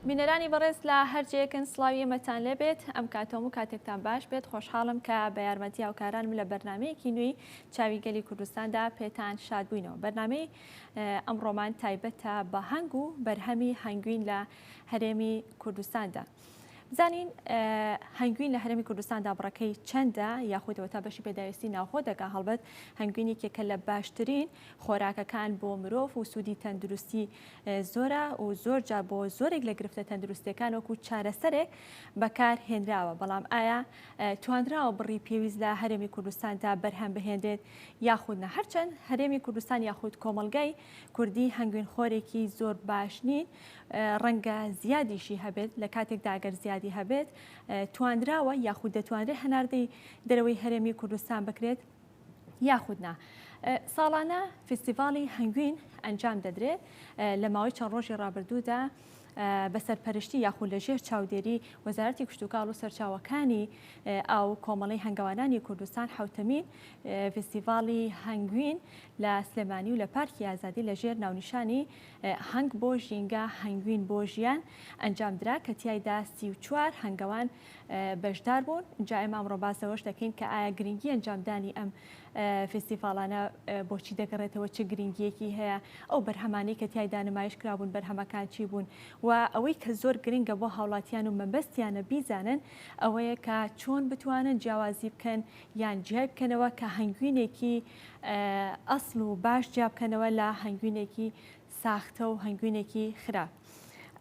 بینەرانی بەڕێز لە هەرجەیەکن سلاوی ئێمەتان لێبێت ئەم کاتۆم و کاتێکتان باش بێت خۆشحاڵم کە بە یارمەتی هاوکارانم لە بەرنمەیەکی نوێی چاوی گەلی کوردستاندا پێتان شاد بووینەوە بەرنمەی ئەم ڕۆمان تایبەتە بە هەنگ و بەرهەمی هەنگوین لە هەرێمی کوردستاندا بزانین هەنگوین لە هەرێمی کوردستاندا بڕەکەی چەندە یاخودەوە تا بەشی پێداویستی ناوخۆ دەکا هەڵبەت هەنگوینی کێکە لە باشترین خۆراکەکان بۆ مرۆڤ و سوودی تەندروستی زۆرە و زۆر جا بۆ زۆرێک لە گرفتە تەندروستەکان وەکو چارەسەرێک بەکار هێنراوە بەڵام ئایا توانراوە بڕی پێویست لە هەرێمی کوردستاندا بەرهەم بهێنرێت یاخود نە هەرچەند هەرێمی کوردستان یاخود کۆمەلگای کوردی هەنگوین خۆرێکی زۆر باش نین ڕەنگە زیادیشی هەبێت لە کاتێکدا گەر زیادی هەبێت تواندراوە یاخود دەتوانرێت هەناردەی دەرەوەی هەرێمی کوردستان بکرێت یاخودنا ساڵانە فستیڤاڵی هەنگوین ئەنجام دەدرێت لە ماوەی چەند ڕۆژی ڕابردوودا بە سەرپەرشتی یاخود لە ژێر چاودێری وەزارەتی کشتوکاڵ و سەرچاوەکانی ئاو کۆمەڵی هەنگەوانانی کوردستان حوتەمین فستیڤاڵی هەنگوین لە سلێمانی و لە پارکی ئازادی لە ژێر ناونیشانی هەنگ بۆ ژینگە هەنگوین بۆ ژیان ئەنجام درا کە تایدا سی و چوار هەنگەوان بەشدار بوون جا ئێمە ئەمڕۆ باس لەوەش دەکەین کە ئایا گرنگی ئەنجامدانی ئەم فیستیڤاڵانە بۆچی دەگەڕێتەوە، چ گرنگییەکی هەیە، ئەو بەرهەمانەی کە تیایدا نمایش کرابوون بەرهەمەکان چی بوون و ئەوەی کە زۆر گرنگە بۆ هاوڵاتیان و مەبەستیانە بیزانن ئەوەیە کە چۆن بتوانن جیاوازی بکەن یان جیای بکەنەوە کە هەنگوینێکی ئەسڵ و باش جیا بکەنەوە لە هەنگوینێکی ساختە و هەنگوینێکی خراپ.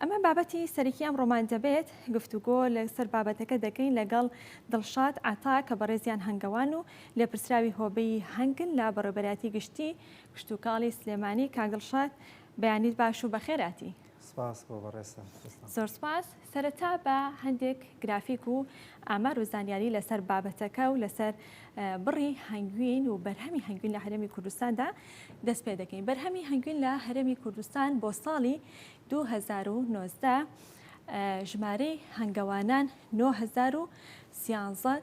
ئەمە بابەتی سەرەکی ئەم ڕۆمان دەبێت، گفتوگۆ لەسەر بابەتەکە دەکەین لەگەڵ دڵشاد عەتا کە بەڕێزیان هەنگەوان و لێپرسراوی هۆبەی هەنگن لە بەڕێوبەرایەتی گشتی کشتوکاڵی سلێمانی، کاک دڵشاد بەیانیت باش و بەخێرهاتی. سپاس بۆ بەڕێزتان. زۆر سپاس. سەرەتا با هەندێک گرافیک و ئامار و زانیاری لەسەر بابەتەکە و لەسەر بڕی هەنگوین و بەرهەمی هەنگوین لە هەرێمی کوردستاندا دەست پێ دەکەین. بەرهەمی هەنگوین لە هەرێمی کوردستان بۆ ساڵی 2019 ژمارەی هەنگەوانان 9013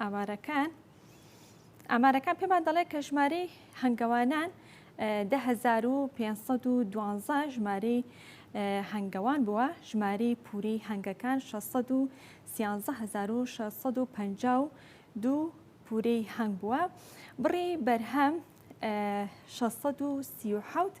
ئامارەکان ئامارەکان پێمان دەڵێت کە ژمارەی هەنگەوانان دە هەزار و پێنجسەد و دوانزە ژمارەی هەنگەوان بووە ژماری پوری هەنگەکان 163650 و دوو پورەی هەنگ بووە بڕی بەرهەم 1637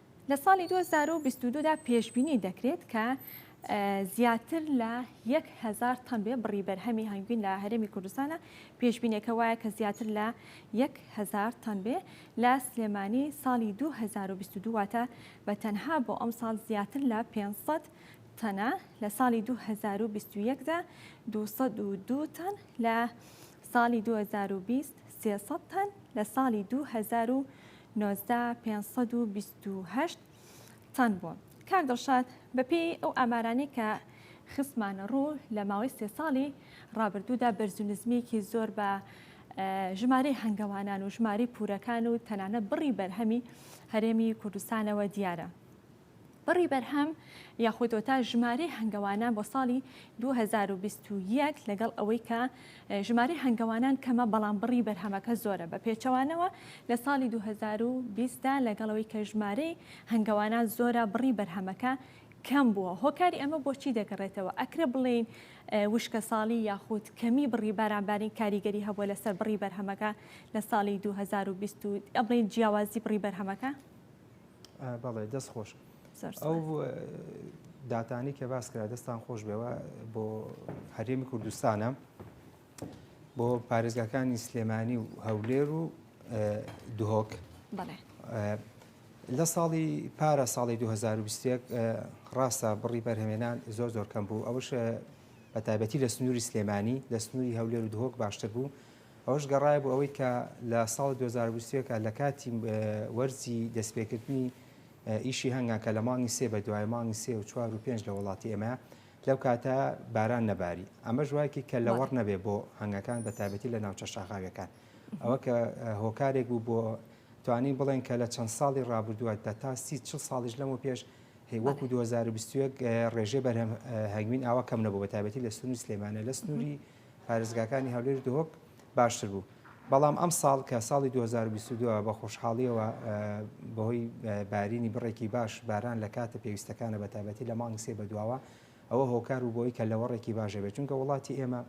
لە ساڵی دوو هەزار و بیست و دوو دا پێشبینی دەکرێت کە زیاتر لە یەک هەزار تەن بێ بڕی بەرهەمی هەنگوین لە هەرێمی کوردستانە پێشبینەکە وایە کە زیاتر لە یەک هەزار تەن بێ لە سلێمانی ساڵی دوو هەزار و بیست و دوو واتە بە تەنها بۆ ئەم ساڵ زیاتر لە پێنج سەد تەنە لە ساڵی دوو هەزار و بیست و یەک دا دوو سەد و دوو تەن لە ساڵی دوو هەزار و بیست سێ سەد تەن لە ساڵی دوو هەزار و نۆزدە هەزار پێنج سەد و بیست و هەشت تەن بووە. کاک دڵشاد بەپێی ئەو ئامارانەی کە خستمانە ڕوو لە ماوەی سێ ساڵی ڕابردوودا بەرز و نزمیەکی زۆر بە ژمارەی هەنگەوانان و ژمارەی پورەکان و تەنانەت بڕی بەرهەمی هەرێمی کوردستانەوە دیارە. بڕی بەرهەم یاخود وتا ژمارەی هەنگەوانان بۆ ساڵی دوو هەزار و بیست و یەک لەگەڵ ئەوەی کە ژمارەی هەنگەوانان کەمە بەڵام بڕی بەرهەمەکە زۆرە بە پێچەوانەوە لە ساڵی دوو هەزار و بیست دا لەگەڵ ئەوەی کە ژمارەی هەنگەوانان زۆرە بڕی بەرهەمەکە کەم بووە هۆکاری ئەمە بۆ چی دەگەڕێتەوە ئەکرێ بڵێین وشکەساڵی یاخود کەمی بڕی بارانبارین کاریگەری هەبووە لەسەر بڕی بەرهەمەکە لە ساڵی دوو هەزار و بیست و ئەبڵێین جیاوازی بڕی بەرهەمەکە بەڵێ دەست خۆش ئەو داتانی کە باس کرا دەستان خۆش بێەوە بۆ هەرێمی کوردستانە بۆ پارێزگاکانی سلێمانی و هەولێر و دهۆک لە ساڵی پارە ساڵی 2020 ڕاستە بڕی بەرهمێنان زۆر زۆر کەم بوو ئەوش بە تایبەتی لە سنووری سلێمانی لە سنووری هەولێر و دهۆک باشتر بوو ئەوەش گەڕایە بۆ ئەوەی کە لە ساڵی دوو هەزار و بیست و یەک لە کاتی وەرزی دەستپێکردنی ئیشی هەنگا کە لە مانگی سێ بە دوای مانگی سێ و چوار و پێنج لە وڵاتی ئێمە لەو کاتە باران نەباری ئەمەش وایکی کە لەوەڕ نەبێ بۆ هەنگەکان بە تایبەتی لە ناوچە شاخاویەکان ئەوە کە هۆکارێک بوو بۆ توانین بڵێن کە لە چەند ساڵی ڕابردووە دە تا سی چ ساڵیش لەمە پێش هێوەکو 2021 ڕێژێ بەرهەم هەنگوین ئاوا کەم نەبوو بە تایبەتی لە سنووری سلێمانە لە سنووری پارێزگاکانی هەولێر و دهۆک باشتر بوو، بەڵام ئەمساڵ کە ساڵی دوو هەزار و بیست و دوو ە بە خۆشحاڵییەوە بەهۆی بارینی بڕێکی باش باران لە کاتە پێویستەکانە بە تایبەتی لە مانگی سێ بەدواوە ئەوە هۆکار بوو بۆی کە لەوەڕێکی باش هەبێت چونکە وڵاتی ئێمە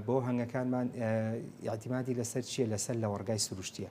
بۆ هەنگەکانمان یاعتیمادی لەسەر چییە لەسەر لەوەڕگای سروشتیە.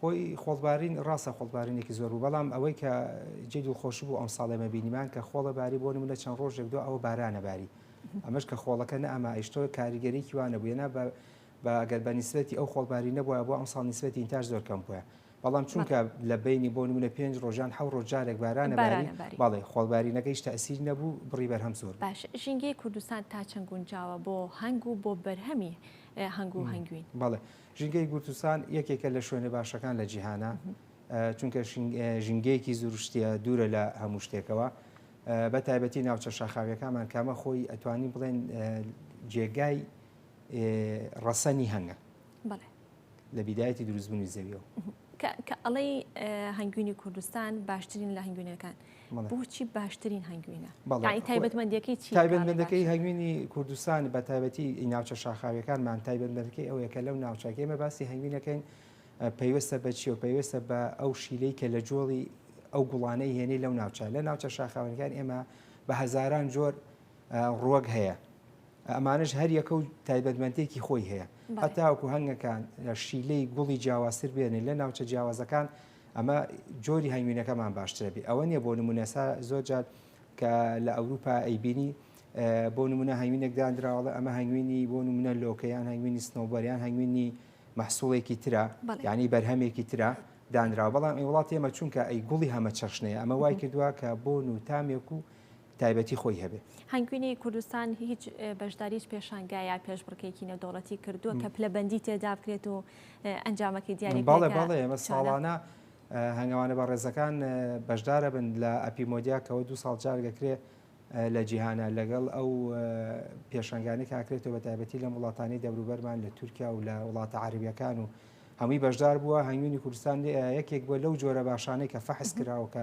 خۆی خۆڵبارین ڕاستە خۆڵبارینێکی زۆر بوو بەڵام ئەوەی کە جێی دڵخۆشی بوو ئەمساڵ ئێمە بینیمان کە خۆڵە باری بۆ نمونە چەند ڕۆژێک دو ئەوە بارانە باری ئەمەش کە خۆڵەکە نە ئەما ئیشتۆ کاریگەریکی وانە بوو یەنا بە بە ئەگەر بە نیسبەتی ئەو خۆڵباری نەبووە بۆ ئەمساڵ نیسبەتی ئینتاش زۆر کەم بووە بەڵام چونکە لە بینی بۆ نمونە پێنج ڕۆژان حەو ڕۆژ جارێک بارانە باری بەڵێ خۆڵبارینەکەیش تەسیر نەبوو بڕی بەرهەم زۆر باش ژینگەی کوردستان تا چەند گونجاوە بۆ هەنگ و بۆ بەرهەمی هەنگ و هەنگوین بەڵێ ژینگەی گورتستان یەکێکە لە شوێنە باشەکان لە جیهانا چونکە ژینگەیەکی زروشتیە دوورە لە هەموو شتێکەوە بە تایبەتی ناوچە شاخاویەکانمان کامە خۆی ئەتوانی بڵێن جێگای ڕەسەنی هەنگە لە بیدایەتی دروستبوونی زەویەوە کە ئەڵەی هەنگوینی کوردستان باشترین لە هەنگوینەکان بۆچی باشترین هەنگوینە تایبەتمەندەکەی چی تایبەتمەندەکەی هەنگوینی کوردستان بە تایبەتی ناوچە شاخاویەکانمان تایبەتمەندەکەی ئەوەیە کە لەو ناوچەکەی مە باسی هەنگوینەکەین پەیوەستە بە چی و پەیوەستە بە ئەو شیلەی کە لە جۆڵی ئەو گوڵانەی هێنەی لەو ناوچە لە ناوچە شاخاوەنەکان ئێمە بە هەزاران جۆر ڕوەک هەیە ئەمانش هەر یەکە و تایبەتمەندێکی خۆی هەیە هەتاوکو هەنگەکان شیلەی گوڵی جیاوازتر بێنێ لە ناوچە جیاوازەکان ئەمە جۆری هەنگوینەکەمان باشترە بێ ئەوە نیە بۆ نمونە سا زۆر جار کە لە ئەوروپا ئەیبینی بۆ نمونە هەنگوینێک دانراوەڵە ئەمە هەنگوینی بۆ نمونە لۆکەیان هەنگوینی سنەوبەریان هەنگوینی مححسوڵێکی ترا ینی بەرهەمێکی ترا دانرا بەڵام ای وڵاتی ئەمە چونکە ئەی گوڵی هەمە چەشنەیە ئەمە وای کردووە کە بۆ نوتامێک و تایبەتی خۆی هەبێ. هەنگوینی کوردستان هیچ بەشداری هیچ پێشانگا یا پێشبڕکێکی نێودەوڵەتی کردووە کە پلەبەندی تێدا بکرێت و ئەنجامەکەی دیاری بکرێت؟ بەڵێ بەڵێ ئێمە ساڵانە هەنگەوانە بەڕێزەکان بەشدار ئەبن لە ئەپی مۆدیا کە دوو ساڵ جار دەکرێ لە جیهانە لەگەڵ ئەو پێشەنگانی کاکرێتەوە بە تایبەتی لەم وڵاتانی دەوروبەرمان لە تورکیا و لە وڵاتە عربیەکان و هەمووی بەشدار بووە هەنگوینی کوردستان یەکێک بووە لەو جۆرە باشانەی کە فەحس کراوە کە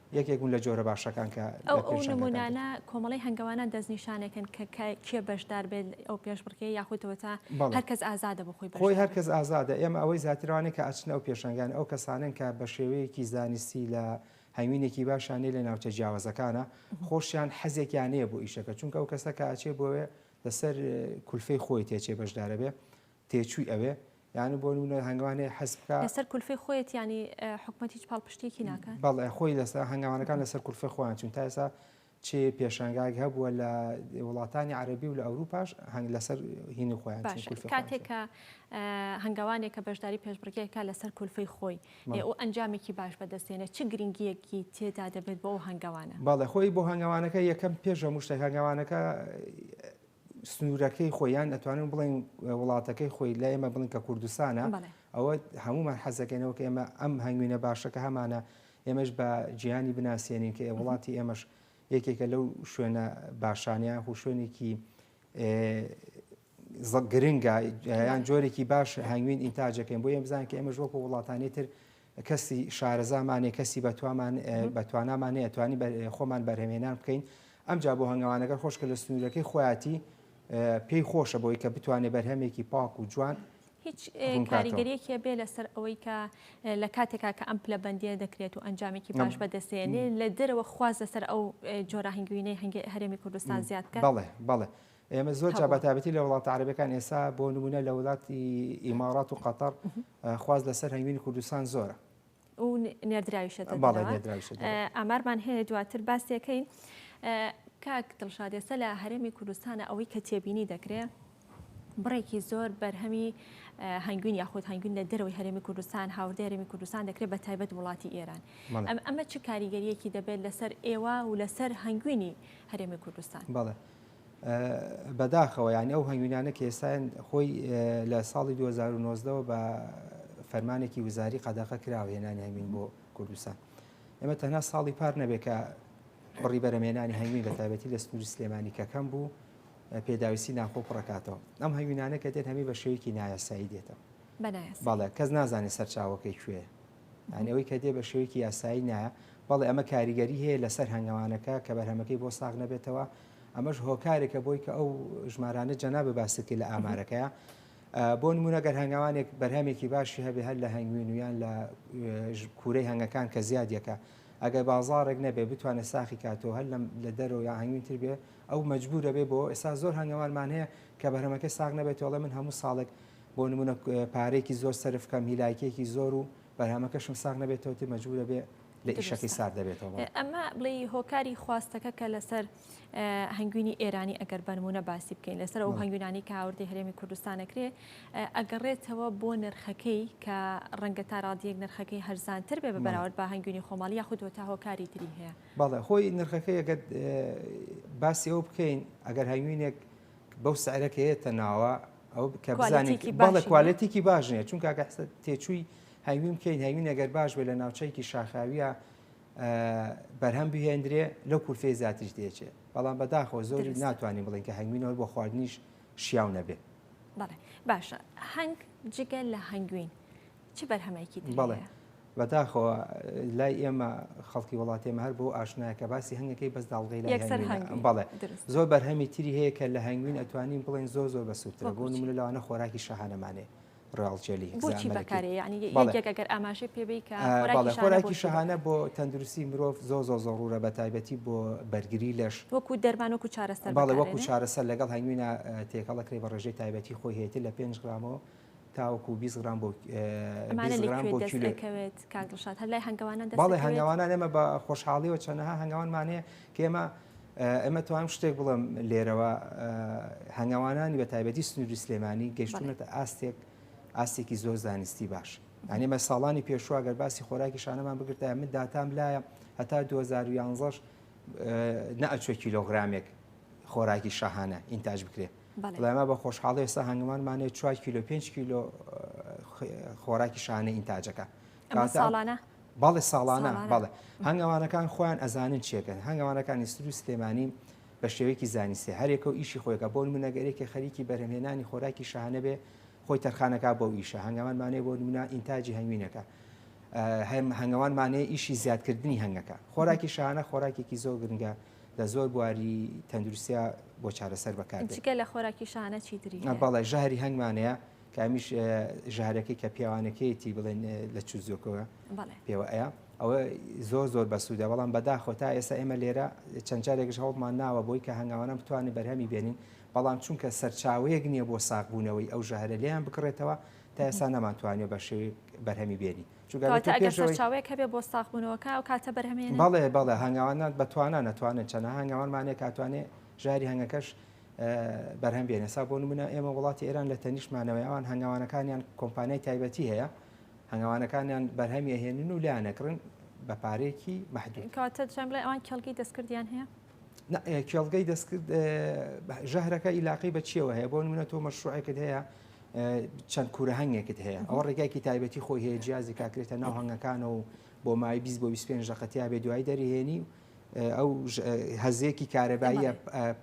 یەکێک بوون لە جۆرە باشەکان کە لە ئەو پێشانگەکان دەکرێت. نموونانە کۆمەڵەی هەنگەوانان دەستنیشانەکەن کە کە کێ بەشدار بێت ئەو پێشبڕکێ یاخود وەتا بەڵێ. هەر کەس ئازادە بۆ خۆی خۆی بەشدار هەر بێت. کەس ئازادە، ئێمە ئەوەی زیاتر ئەوانەی کە ئەچنە ئەو پێشانگانە ئەو کەسانەن کە بە شێوەیەکی زانستی لە هەنگوینێکی باشیان نیە لە ناوچە جیاوازەکانە، خۆشیان حەزێکیان هەیە بۆ ئیشەکە چونکە ئەو کەسە کە ئەچێ بۆێ لەسەر کولفەی خۆی تێچێ بەشدارەبێ تێچووی ئەوێ یانی بۆ نمونە هەنگاوان هەیە حەز بکا لەسەر کولفەی خۆیەتی یانی حکومەت هیچ پاڵپشتیەکی ناکات بەڵێ خۆی لەسەر هەنگاوانەکان لەسەر کولفەی خۆیان چون تا ئێستا چی پێشانگاگ هەبووە لە وڵاتانی عربی و لە ئەوروپاش هەنگ لەسەر هینی خۆیان کاتێکە هەنگاوانێکە بەشداری پێشبڕگەکە لەسەر کولفەی خۆی و ئەنجامێکی باش بەدەستێنە چ گرنگیەکی تێدا دەبێت بۆ ئەو هەنگاوانە باڵێ خۆی بۆ هەنگاوانەکە یەکەم پێشە مشتە هەنگاوانەکە سنوورەکەی خۆی یان ئەتوانن بڵێن وڵاتەکەی خۆی لە ئێمە بڵین کە کوردستانە ئەوە هەمومان حەزەکەینەوە کە ئێمە ئەم هەنگوینە باشەکە هەمانە ئێمەش بە جیانی بناسیێنین کە وڵاتی ئێمەش یەکێکە لەو شوێنە باشانیان خو شوێنێکی گرنگە یان جۆرێکی باش هەنگوین ئینتاجەکەین بۆ ئێمە بزانین کە ئێمەش وەکو وڵاتانی تر کەسی شارەزامان نیە کەسی بەتوامان بەتوانامان نیە توانی خۆمان بەرهەمێنان بکەین ئەمجا بۆ هەنگەوانەگەر خۆشکە لە سنوورەکەی خۆیاتی پێی خۆشە بۆی کە بتوانێت بەرهەمێکی پاک و جوان هیچ کاریگەریەکە بێ لەسەر ئەوەی کە لە کاتێکا کە ئەم پلە بەندیە دەکرێت و ئەنجامێکی باش بەدەستێنێ لە دەرەوە خواز لەسەر ئەو جۆرە هەنگوینەی هەنگی هەرێمی کوردستان زیاد بکە بەڵێ بەڵێ ئێمە زۆر جا بەتابەتی لە وڵاتە عەرەبیەکان ئێسا بۆ نمونە لە وڵاتی ئیمارات و قەتەر خواست لەسەر هەنگوینی کوردستان زۆرە و نێردراویشە ئامارمان هەیە دواتر باسێکەین کاک دڵشادێسە لە هەرێمی کوردستانە ئەوەی کە تێبینی دەکرێت بڕێکی زۆر بەرهەمی هەنگوین یاخود هەنگوین لە دەرەوەی هەرێمی کوردستان هاوردە هەرێمی کوردستان دەکرێت بە تایبەت وڵاتی ئێران ئەم ئەمە چ کاریگەریەکی دەبێت لەسەر ئێوە و لەسەر هەنگوینی هەرێمی کوردستان بەڵێ بەداخەوە یعنی ئەو هەنگوینانە کە ئێستایان خۆی لە ساڵی 2009ەوە بە فەرمانێکی وزاری قەدەقە کراوە هێنانی هەنگوین بۆ کوردستان ئێمە تەنها ساڵی پار نەبێت کە پڕی بەرەمێنانی هەنگوین بە تابەتی لە سنووری سلێمانی کەکەم بوو پێداویستی ناخۆ پڕکاتەوە ئەم هەنگوینانە کە دێت هەمی بە شێوکی نایاسایی دێتەوە بەڵێ کەس نازانێت سەرچاوەکەی کوێ یانی ئەوەی کە دێ بە شێوەیەکی یاسایی نایە، بەڵێ ئەمە کاریگەری هەیە لەسەر هەنگەوانەکە کە بەرهەمەکەی بۆ ساغ نەبێتەوە، ئەمەش هۆکارێکە بۆی کە ئەو ژمارانە جەنابە باست کرد لە ئامارەکەیە بۆ نمونە گەر هەنگاوانێک بەرهەمێکی باشی هەبێ هەر لە هەنگوین ویان لە کورەی هەنگەکان کە زیادیەکە ئەگەر بازارێک نەبێ بتوانێت ساخی کاتەوە هەر لە دەرەوە یا هەنگوینتر بێ ئەو مجبورە بێ بۆ ئێستا زۆر هەنگەوانمان هەیە کە بەرهەمەکە ساغ نەبێت وڵێ من هەموو ساڵێک بۆ نموونە پارەیەکی زۆر سەرف کەم هی لایکێکی زۆر و بەرهەمەکەشم ساغ نەبێتەوە تێ مەجبورە بێ لە ئیشەکەی سار دەبێتەوە ئەمە بڵێ هۆکاری خواستەکە کە لەسەر هەنگوینی ئێرانی ئەگەر بەرمونە باسی بکەین لەسەر ئەو هەنگوینانی کە هاوردی هەرێمی کوردستانەکرێ ئەگەڕێتەوە بۆ نرخەکەی کە ڕەنگە تا ڕادیەک نرخەکەی هەرزانتر بێ بە بەراورد بە هەنگوینی خۆماڵی یاخودوە تا هۆکاری تری هەیە بەڵێ خۆی نرخەکەی ئەگەر باسی ئەو بکەین ئەگەر هەنگوینێک بەو سعرە کە یەتە ناوە ئەو کە بزانێت بەڵێ کوالێتێکی باش نیە چون کاکە حسە تێچووی هەوی بکەین هەوی نەگەر باش بێ لە ناوچەیەکی شاخاویە بەرهەم بهێندرێ لەو کورتێ زیاتریش دێچێت بەڵام بەداخۆ زۆری ناتوانانی بڵین کە هەنگوینەوە بۆ خواردنیش شیاو نەبێ باشە هەنگ جگە لە هەنگوین چ بەرهەمێکی تری بەڵێ هەیە؟ بەداخەوە لای ئێمە خەڵکی وڵاتی ئێمە هەر بۆ ئاشنایە کە باسی هەنگەکەی بەس داڵغەی لای یەکسەر هەنگوینە. هەنگوین، بەڵێ دروست. زۆر بەرهەمی تری هەیە کە لە هەنگوین ئەتوانین بڵێن زۆر زۆر بەسوودترە بۆ بەکوچی. نمونە لەوانە خۆراکی شاهانەمانێ ڕاڵ جێلی بۆچی زامەلکی. بەکارێ یعنی یە- بەڵێ. یەکێک ئەگەر ئاماژەی پێ بی کە آه، خۆراکی بەڵێ شانە خۆراکی بۆچی شەهانە بۆ تەندروستی مرۆڤ زۆ زۆ زۆڕورە بە تایبەتی بۆ بەرگری لەش بەکارێ؟ وەکو دەرمان وەکو چارەسەر بەڵێ وەکو بەکارێنێ؟ چارەسەر لەگەڵ هەنگوینا تێکەڵە کرێ بە ڕێژەی تایبەتی خۆی هەیەتی لە پێنج گرامەوە تاوەکو بیست گرام بۆ ئەمانە لە کوێ دەست دەکەوێت کاک دڵشاد هەر لای هەنگەوانان دەست بەڵێ هەنگەوانان ئێمە بە خۆشحاڵیەوە چەندەها هەنگەوانمان هەیە کە ئێمە ئەمە توانم شتێک بڵم لێرەوە هەنگەوانانی بە تایبەتی سنووری سلێمانی گەشتونەتە ئاستێک ئاستێکی زۆر زانستی باش ئەنێمە ساڵانی پێشوە گەر باسی خۆراکی شانەمان بگرتە من داتام لایە هەتا 2011 نەئەچوە کیلۆگرامێک خۆراکی شەهانە ئینتاج بکرێت بەڵێ. بەڵێ ئەمە بە خۆشحاڵی ئێستا هەنگمانمانێ چوار کیلۆ پێنج کیلۆ خۆراکی شانە ئینتاجەکە ئەمە ساڵانە بەڵێ ساڵانە بەڵێ هەنگەوانەکان خۆیان ئەزانن چێکن هەنگەوانەکانی سر و سلێمانی بە شێوەیەکی زانیستی هەرێکە و ئیشی خۆیگە بۆ منەگەرێکی خەریکی بەرهمێنانی خۆراکی شانە بێ خۆی تەرخانەکە بۆ ئیشە هەنگەوانمانەیە بۆ نمونە ئینتاجی هەنگوینەکە هەنگەوانمانەیە ئیشی زیادکردنی هەنگەکە خۆراکی شانە خۆراکێکی زۆر گرنگە لە زۆر بواری تەندروستیا بۆ چارەسەر بەکار جگە لە خۆراکی شانە چیتری بەڵێ ژەهری هەنگمانەیە کامیش ژارەکەی کە پیاوانەکەیەتی بڵێن لە چ زۆکەوە پێوە ئەیە ئەوە زۆر زۆر بەسوودە بەڵام بەداخۆ تا ئێستا ئێمە لێرە چەند جارێکش هەوڵمان ناوە بۆی کە هەنگاوانە بتوانین بەرهەمی بێنین بەڵام چونکە سەرچاوەیەک نییە بۆ ساغبوونەوەی ئەو ژەهرە لێیان بکڕێتەوە تا ئێستا نەمانتوانێت بە شێوەیەک بەرهەمی بێنین کەواتە ئەگەر سەرچاوەیەک هەبێت بۆ ساغبوونەوەکە ئەو کاتە بەرهەم هێنێت؟ بەڵێ بەڵێ هەنگاوانان بە توانا نەتوانێت چەند هەنگاوانمانێک کاتوانێت ژاری هەنگەکەش بەرهەم بێنێ سا بۆ نمونە ئێمە وڵاتی ئێران لە تەنیشتمانەوەی ئەوان هەنگاوانەکانیان کۆمپانیای تایبەتی هەیە هەنگاوانەکانیان بەرهەمی ئەهێنن و لایەنەکڕن بە پارێکی محدود کاتە جەم بڵێ ئەوان کێڵگەی دەستکردیان هەیە کێڵگەی دەستکرد ژەهرەکە ئیلاقی بە چیەوە هەیە بۆ منە تۆ مەشروعێکت هەیە چەند کورە هەنگێکت هەیە ئەوە ڕێگایکی تایبەتی خۆی هەیە جیازی کاکرێتە ناو هەنگەکانە و بۆ مای 20 بۆ 25 ڕقەتیا بێ دوای دەریێنی و ئەو هەزێکی کارەباییە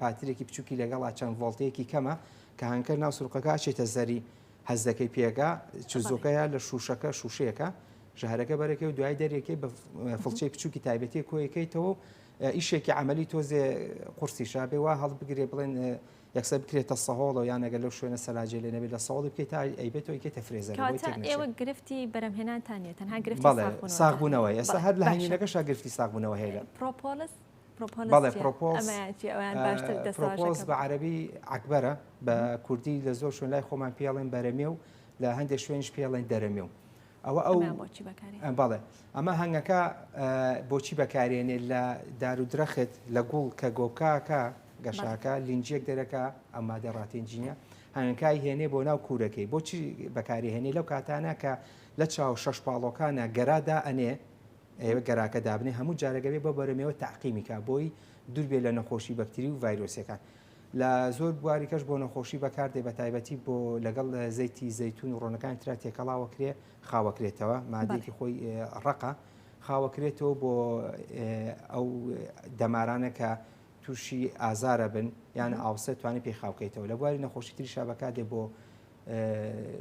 پاترێکی بچووکی لەگەڵا چەند ڤۆڵتەیەکی کەمە کە هەنکە ناو سرقەکە چێتە زەری هەزەکەی پێگا چزۆکەیە لە شوشەکە شوشەیەەکە ژەهرەکە بەرەکە و دوای دەرێکی بە فڵچەی بچووکی تایبەتی کۆیەکەیتەوە ئیشێکی عملی تۆزێ قورسی شابێ وا هەڵبگرێ بڵێن یەکسەر بکرێتە سەهۆڵەوە یان ئەگەر لەو شوێنە سەلاجێ لێ نەبێت لە سەهۆڵی بکەیت تا ئەیبێت تۆ ئەیکەیتە فرێزەرەوە بۆی کەواتە تێک نەچێت ئێوە گرفتی بەرەمهێنانتان نییە تەنها گرفتی بەڵێ ساغبوونەوەتانە ساغبوونەوە ئێستا بەڵێ هەر لە باشە هەنگوینەکەشا گرفتی ساغبوونەوە هەیە لە پرۆپۆلس پرۆپۆلس بەڵێ چییە؟ پرۆپۆڵس ئەمەیان چییە؟ ئەویان باشتر آه، پرۆپۆز دەستەواژەکە بە بکەن عەرەبی عەکبەرە بە کوردی لە زۆر شوێن لای خۆمان پێڵێن بەرەمێو لە هەندێک شوێنش پێڵێن دەرەمێو ئەوە ئەو بەڵێ ئەمە هەنگەکە بۆچی بەکارێنێت لە دار و درەخت لە گوڵ کە گۆکاکە گەشاکە لینجێک دەرەکە ئەم مادە ڕاتێنجینە هەنگەکای هێنێ بۆ ناو کوورەکەی بۆچی بەکاری هێنێ لەو کاتانە کە لە چاو شەش پاڵۆکانە گەرادا ئەنێ ئێوە گەراکە دابنێ هەموو جارەگەبێ بۆ بەرەمەوە تاقیمیکا بۆی دووربێ لە نەخۆشی بەکتری و ڤایرۆسەکان لە زۆر بواری کەش بۆ نەخۆشی بەکاردێ بە تایبەتی بۆ لەگەڵ زەیتی زەیتون و ڕۆنەکانی تررا تێکەڵاوە کرێ خاوەکرێتەوە مادێکی خۆی ڕقە خاوەکرێتەوە بۆ ئەو دەمارانە کە تووشی ئازارە بن یان ئاوسە توانانی پێی خاوکەیتەوە لە بواری نەخۆشی تریشا بەکاتێ بۆ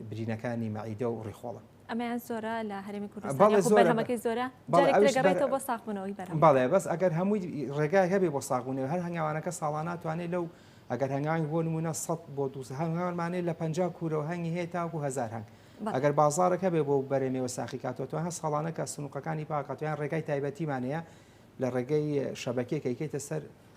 برینەکانی مەعیدە و ڕیخۆڵە ئەمەیان زۆرە لە هەرێمی کوردستان یاخود بەرهەمەکەی زۆرە جارێک دەگەڕێتەوە بۆ ساغبوونەوەی بەرهەم بەڵێ بەس ئەگەر هەمووی ڕێگای هەبێ بۆ ساغبوونەوە هەر هەنگاوانەکە ساڵان ناتوانێت لەو ئەگەر هەنگاوی بۆ نمونە 100 بۆ 200 هەنگاوانمانێت لە 50 کورەوە هەنگی هەیە تاکو هزار هەنگ ئەگەر بازارەکە بێ بۆ بەرەمێوە ساخی کاتۆتوان هە ساڵانەکە سنوقەکانی پاکاتوان ڕێگای تایبەتیمانەیە لە ڕێگەی شەبەکێکەکەیتە سەر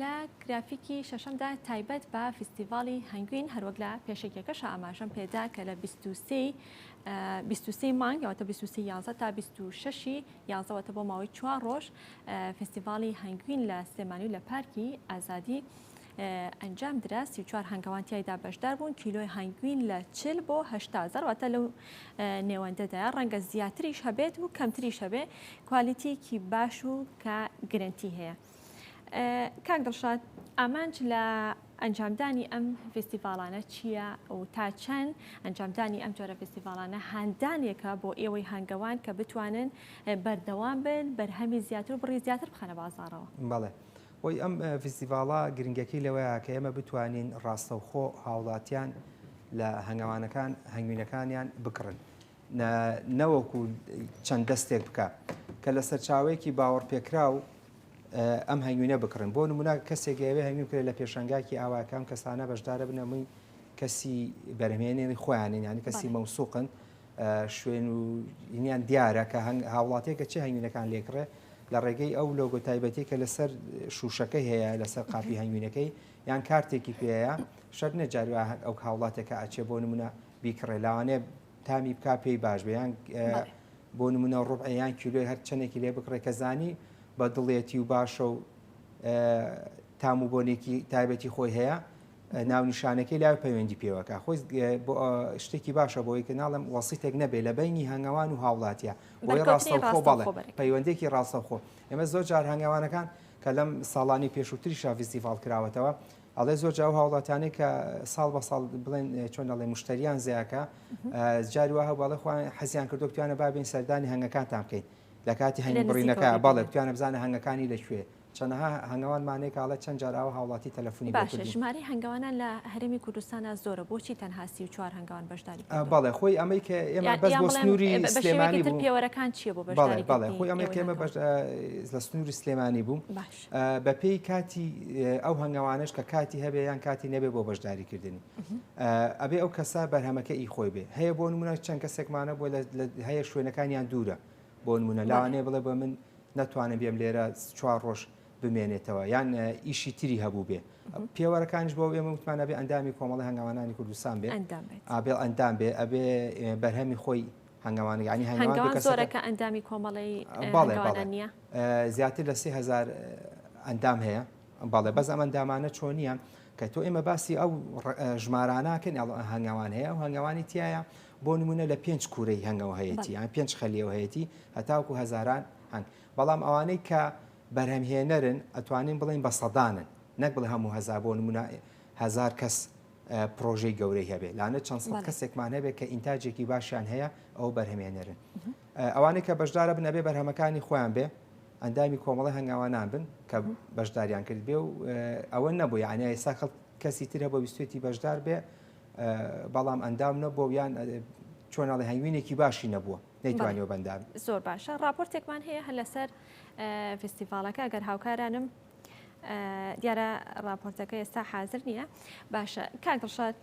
لە گرافیکی شەشەمدا تایبەت بە فیستیڤاڵی هەنگوین هەروەک لە پێشێکەکەش ئاماژەم پێدا کە لە 23 مانگ یاوەتە 23 تا 26 یازەوەتە بۆ ماوەی چوار ڕۆژ فیستیڤاڵی هەنگوین لە سلێمانی و لە پارکی ئازادی ئەنجام درا، سی و چوار هەنگەوان تیایدا بەشدار بوون، کیلۆی هەنگوین لە چل بۆ هەشتا زەر واتە لەو نێوەندەدایە، ڕەنگە زیاتریش هەبێت و کەمتریش هەبێ، کوالیتیەکی باش و کە گرنتی هەیە. کاک دڵشاد ئامانج لە ئەنجامدانی ئەم فستیڤالانە چییە و تا چەند ئەنجامدانی ئەم جۆرە فستیڤالانە هاندانێکە بۆ ئێوەی هەنگەوان کە بتوانن بەردەوام بن بەرهەمی زیاتر و بڕی زیاتر بخەنە بازارەوە بەڵێ هۆی ئەم فیستیڤاڵە گرنگەکەی لەوەیە کە ئێمە بتوانین ڕاستەوخۆ هاوڵاتیان لە هەنگەوانەکان هەنگوینەکانیان بکڕن نەوەکو چەند دەستێک بکە کە لە سەرچاوەیەکی باوەڕ پێکراو ئەم هەنگوینە بکڕن بۆ نمونا کەسێک ئەوێ هەنگوین کرێت لە پێشەنگاکی ئاواکەم کەسانە بەشدارە بنەمووی کەسی بەرهمێنێنی خۆیانین ینی کەسی مەوسوقن شوێن و یان دیارە کە هاوڵاتێکە چه هەنگوینەکان لێکڕێ لە ڕێگەی ئەو لۆگۆ تایبەتی کە لەسەر شوشەکە هەیە لەسەر قاپی هەنگوینەکەی یان کارتێکی پێەیە شەر نەجاری ئەو هاوڵاتێکە ئەچێ بۆ نمونە بیکڕێ لاوانێ تامی بک پێی باش بەیان بۆ نمونە ڕوبعیان کیلوی هەر چەندێکی لێ بکڕێ کە زانی بە دڵێتی و باشە و تام و بۆنێکی تایبەتی خۆی هەیە ناونیشانەکەی لاوێ پەیوەندی پێوەکە خۆی شتێکی باشە بۆی کە ناڵم وەسیتێک نەبێ لە بینی هەنگەوان و هاوڵاتە بۆی ڕاستەخۆ بەڵێ پەیوەندێکی ڕاستەخۆ ئێمە زۆر جار هەنگەوانەکان کە لەم ساڵانی پێشووتری شافیستیڤال کراوەتەوە ئەڵێ زۆر جاو هاوڵاتانێک کە ساڵ بە ساڵ بڵێن چۆن دەڵێ مشتریان زیاکە جاری وە هەواڵە خۆیان حەزیان کردو توانە بابین سەردانی هەنگەکانتان بکەین لە کاتی هەنگ بڕینەکە بەڵێ توانە بزانە هەنگەکانی لەکوێ چەنەها هەنگەوانمان هەیە کە ئەڵێ چەند جار ئاوا هاوڵاتی تەلەفونی بۆ کردوین. باشە ژمارەی هەنگەوانان لە هەرێمی کوردستانا زۆرە بۆچی تەنها سی و چوار هەنگەوان بەشداری کردوون؟ بەڵێ خۆی ئەمەی کە ئێمە بەس بۆ سنوری سلێمانی بوو. یان بڵێم بە شێوەیەکی تر پێوەرەکان چیە بۆ بەشداری کردنی؟ بەڵێ بەڵێ خۆی ئەمەی کە ئێمە لە سنوری سلێمانی بوو بە پێی کاتی ئەو هەنگەوانەش کە کاتی هەبێ یان کاتی نەبێ بۆ بەشداری کردنی ئەبێ ئەو کەسە بەرهەمەکە ئی خۆی بێ هەیە بۆ نمونە چەند کەسێکمانە بۆ هەیە شوێنەکانیان دوورە بۆ نمونە لاوانەیە بڵێ بە من نەتوانم بێم لێرە چوار ڕۆژ بمێنێتەوە یان ئیشی تری هەبوو بێ پێوەرەکانش بۆ ئێمە وتمان نەبێ ئەندامی کۆمەڵی هەنگاوانانی کوردستان بێ ئابێڵ ئەندام بێ ئەبێ بەرهەمی خۆی هەنگاوان ینی هەنگاوان زۆرەکە ئەندامی کۆمەڵی باڵێ زیاتر لە سێ هزار ئەندام هەیە باڵێ بەس ئەمە ئەندامانە چۆنیە کە تۆ ئێمە باسی ئەو ژماراناکەن هەنگاوان هەیە ئەو هەنگاوانی تایە بۆ نموونە لە پێنج کوورەی هەنگەوە هەیەتی یان پێنج خەلیەوە هەیەتی هەتاوکو هەزاران هەنگ بەڵام ئەوانەی کە بەرهەمهێنەرن ئەتوانین بڵێن بە سەدانن نەک بڵێ هەموو هەزار بۆ نموونە هەزار کەس پرۆژەی گەورەی هەبێت لانە چەند سەد کەسێکمان هەبێت کە ئینتاجێکی باشیان هەیە ئەو بەرهمێنەرن ئەوانەی کە بەشدارە بنەبێ بەرهەمەکانی خۆیان بێ ئەندامی کۆمەڵی هەنگاوانان بن کە بەشداریان کرد بێ و ئەوە نەبوو یانە ئێستا کەسی ترە بۆ ویستێتی بەشدار بێ بەڵام ئەندام نەبووە و یان چۆن ئەڵێ هەنگوینێکی باشی نەبووە نەیتوانیەوە بەندام زۆر باشە راپۆرتێکمان هەیە هە لەسەر فستیڤالەکە ئەگەر هاوکارانم دیارە راپۆرتەکە ئێستا حاضر نییە باشە کاک دڵشاد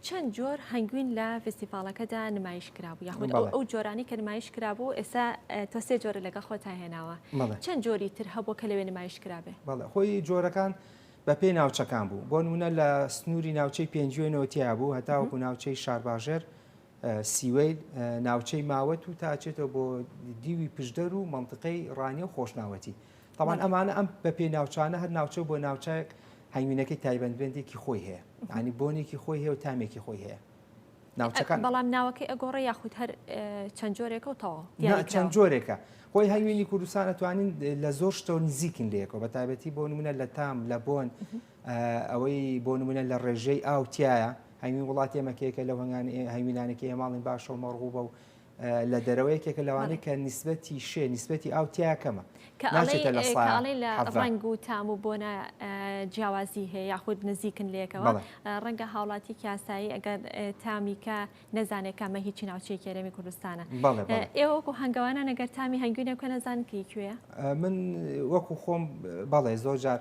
چەند جۆر هەنگوین لە فستیڤالەکەدا نمایش کرابوو یاخود ئەو جۆرانی کە نمایش کرابوو ئێستا تۆ سێ جۆرە لەگە خۆتا هێناوە چەند جۆری تر هەبوو کە لەوێ نمایش کرابێ بەڵێ خۆی جۆرەکان بە پێی ناوچەکان بوو بۆ نموونە لە سنووری ناوچەی پێنجوێنەوە تیا بوو هەتاوەکو ناوچەی شارباژێر سیوەیل ناوچەی ماوەت و تاچێتەوە بۆ دیوی پشدەر و منطقەی ڕانیە و خۆشناوەتی تاوان ئەمانە ئەم بە پێی ناوچانە هەر ناوچە بۆ ناوچەک هەنگوینەکەی تایبەتبندێکی خۆی هەیە ینی بۆنێکی خۆی هەیە و تامێکی خۆی هەیە ناوچەکان بەڵام ناوەکەی ئەگۆڕێ یاخود هەر چەند جۆرێکە و تەواو چەند جۆرێکە هۆی هەوینی کوردستان ئەتوانین لە زۆر شتەوە نزیکن لەیەکەوە بە تایبەتی بۆ نمونە لە تام لە بۆن ئەوەی بۆ نمونە لە ڕێژەی ئاوتیایە هەوین وڵاتی ئەمەکەیەکە لە هەنگان هەوینانەکە هێماڵین باشە و مەڕغوبە و لە دەرەوە یەکێکە لەوانەی کە نیسبەتی شێ نیسبەتی ئاو تیا کەمە ناچێتە لە ساڵی لە ڕنگ و تام و بۆنە جیاوازی هەیە یاخود نزیکن لەکەەوە ڕەنگە هاوڵاتی کاسایی ئەگەر تامیکە نەزانێت کە مە هیچی ناوچەی کێرەمی کوردستانە ئێوەکو هەنگوانە نەگەر تامی هەنگوینە کە نەزان کی کوێە من وەکو خۆم بەڵێ زۆر جار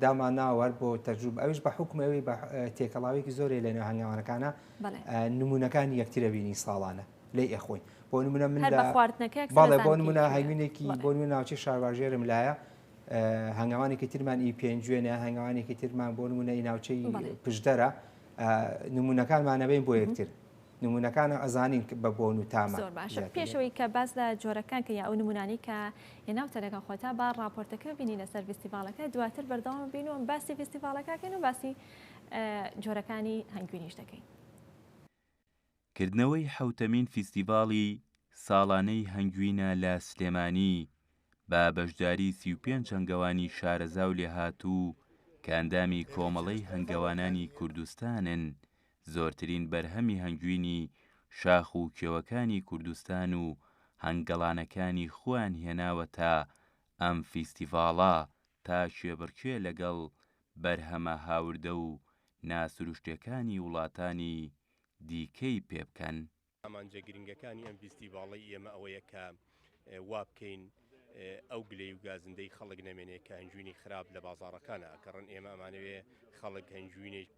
دامانناوەەر بۆ تەجوب ئەوش بە حکومەوەی بە تێکەڵاوێکی زۆری لەنێو هەنگوانەکانە نمونەکانی یەکترە بینی ساڵانە لی ئەخۆین بۆ نمونە من باڵێ بۆ نمونە هەمینێکی بۆ نوێ ناوچی شارواژێرم لایە هەنگاوانێکی ترمان ئی پێنجوێنە هەنگاوانێکی ترمان بۆ نمونە ئی ناوچەی پشدەرە نمونونەکانمانەبین بۆ یەکتر نمونونەکان ئەزانین بە بۆن و تامە پێشەوەی کە باز لە جۆرەکان کە یا ئەو نمونانی کە هێناوتە لەگەڵ خۆتا با راپۆرتەکە بینی لەسەر فستیڤالەکە دواتر بەردەوام بینوم باسی فستیڤالەکەکەن و باسی جۆرەکانی هەنگوینیش دەکەین. کردنەوەی حەوتەمین فیستیڤاڵی ساڵانەی هەنگوینە لە سلێمانی، بە بەشداری سی و پێنج هەنگەوانی شارەزا و لێهاتوو کە ئەندامی کۆمەڵەی هەنگەوانانی کوردستانن، زۆرترین بەرهەمی هەنگوینی شاخ و کێوەکانی کوردستان و هەنگەڵانەکانی خۆیان هێناوەتە ئەم فیستیڤاڵە، تا کێبڕکێ لەگەڵ بەرهەمە هاوردە و ناسروشتێکانی وڵاتانی دیکەی پێ بکەن؟ ئامانجە گرنگەکانی ئەم ڤیستیڤاڵەی ئێمە ئەوەیە کە وا بکەین ئەو گلەی و گازندەی خەڵک نەمێنێ کە هەنجوینی خراپ لە بازاڕەکانە ئەکەڕن، ئێمە ئەمانەوێ خەڵک هەنجوینێک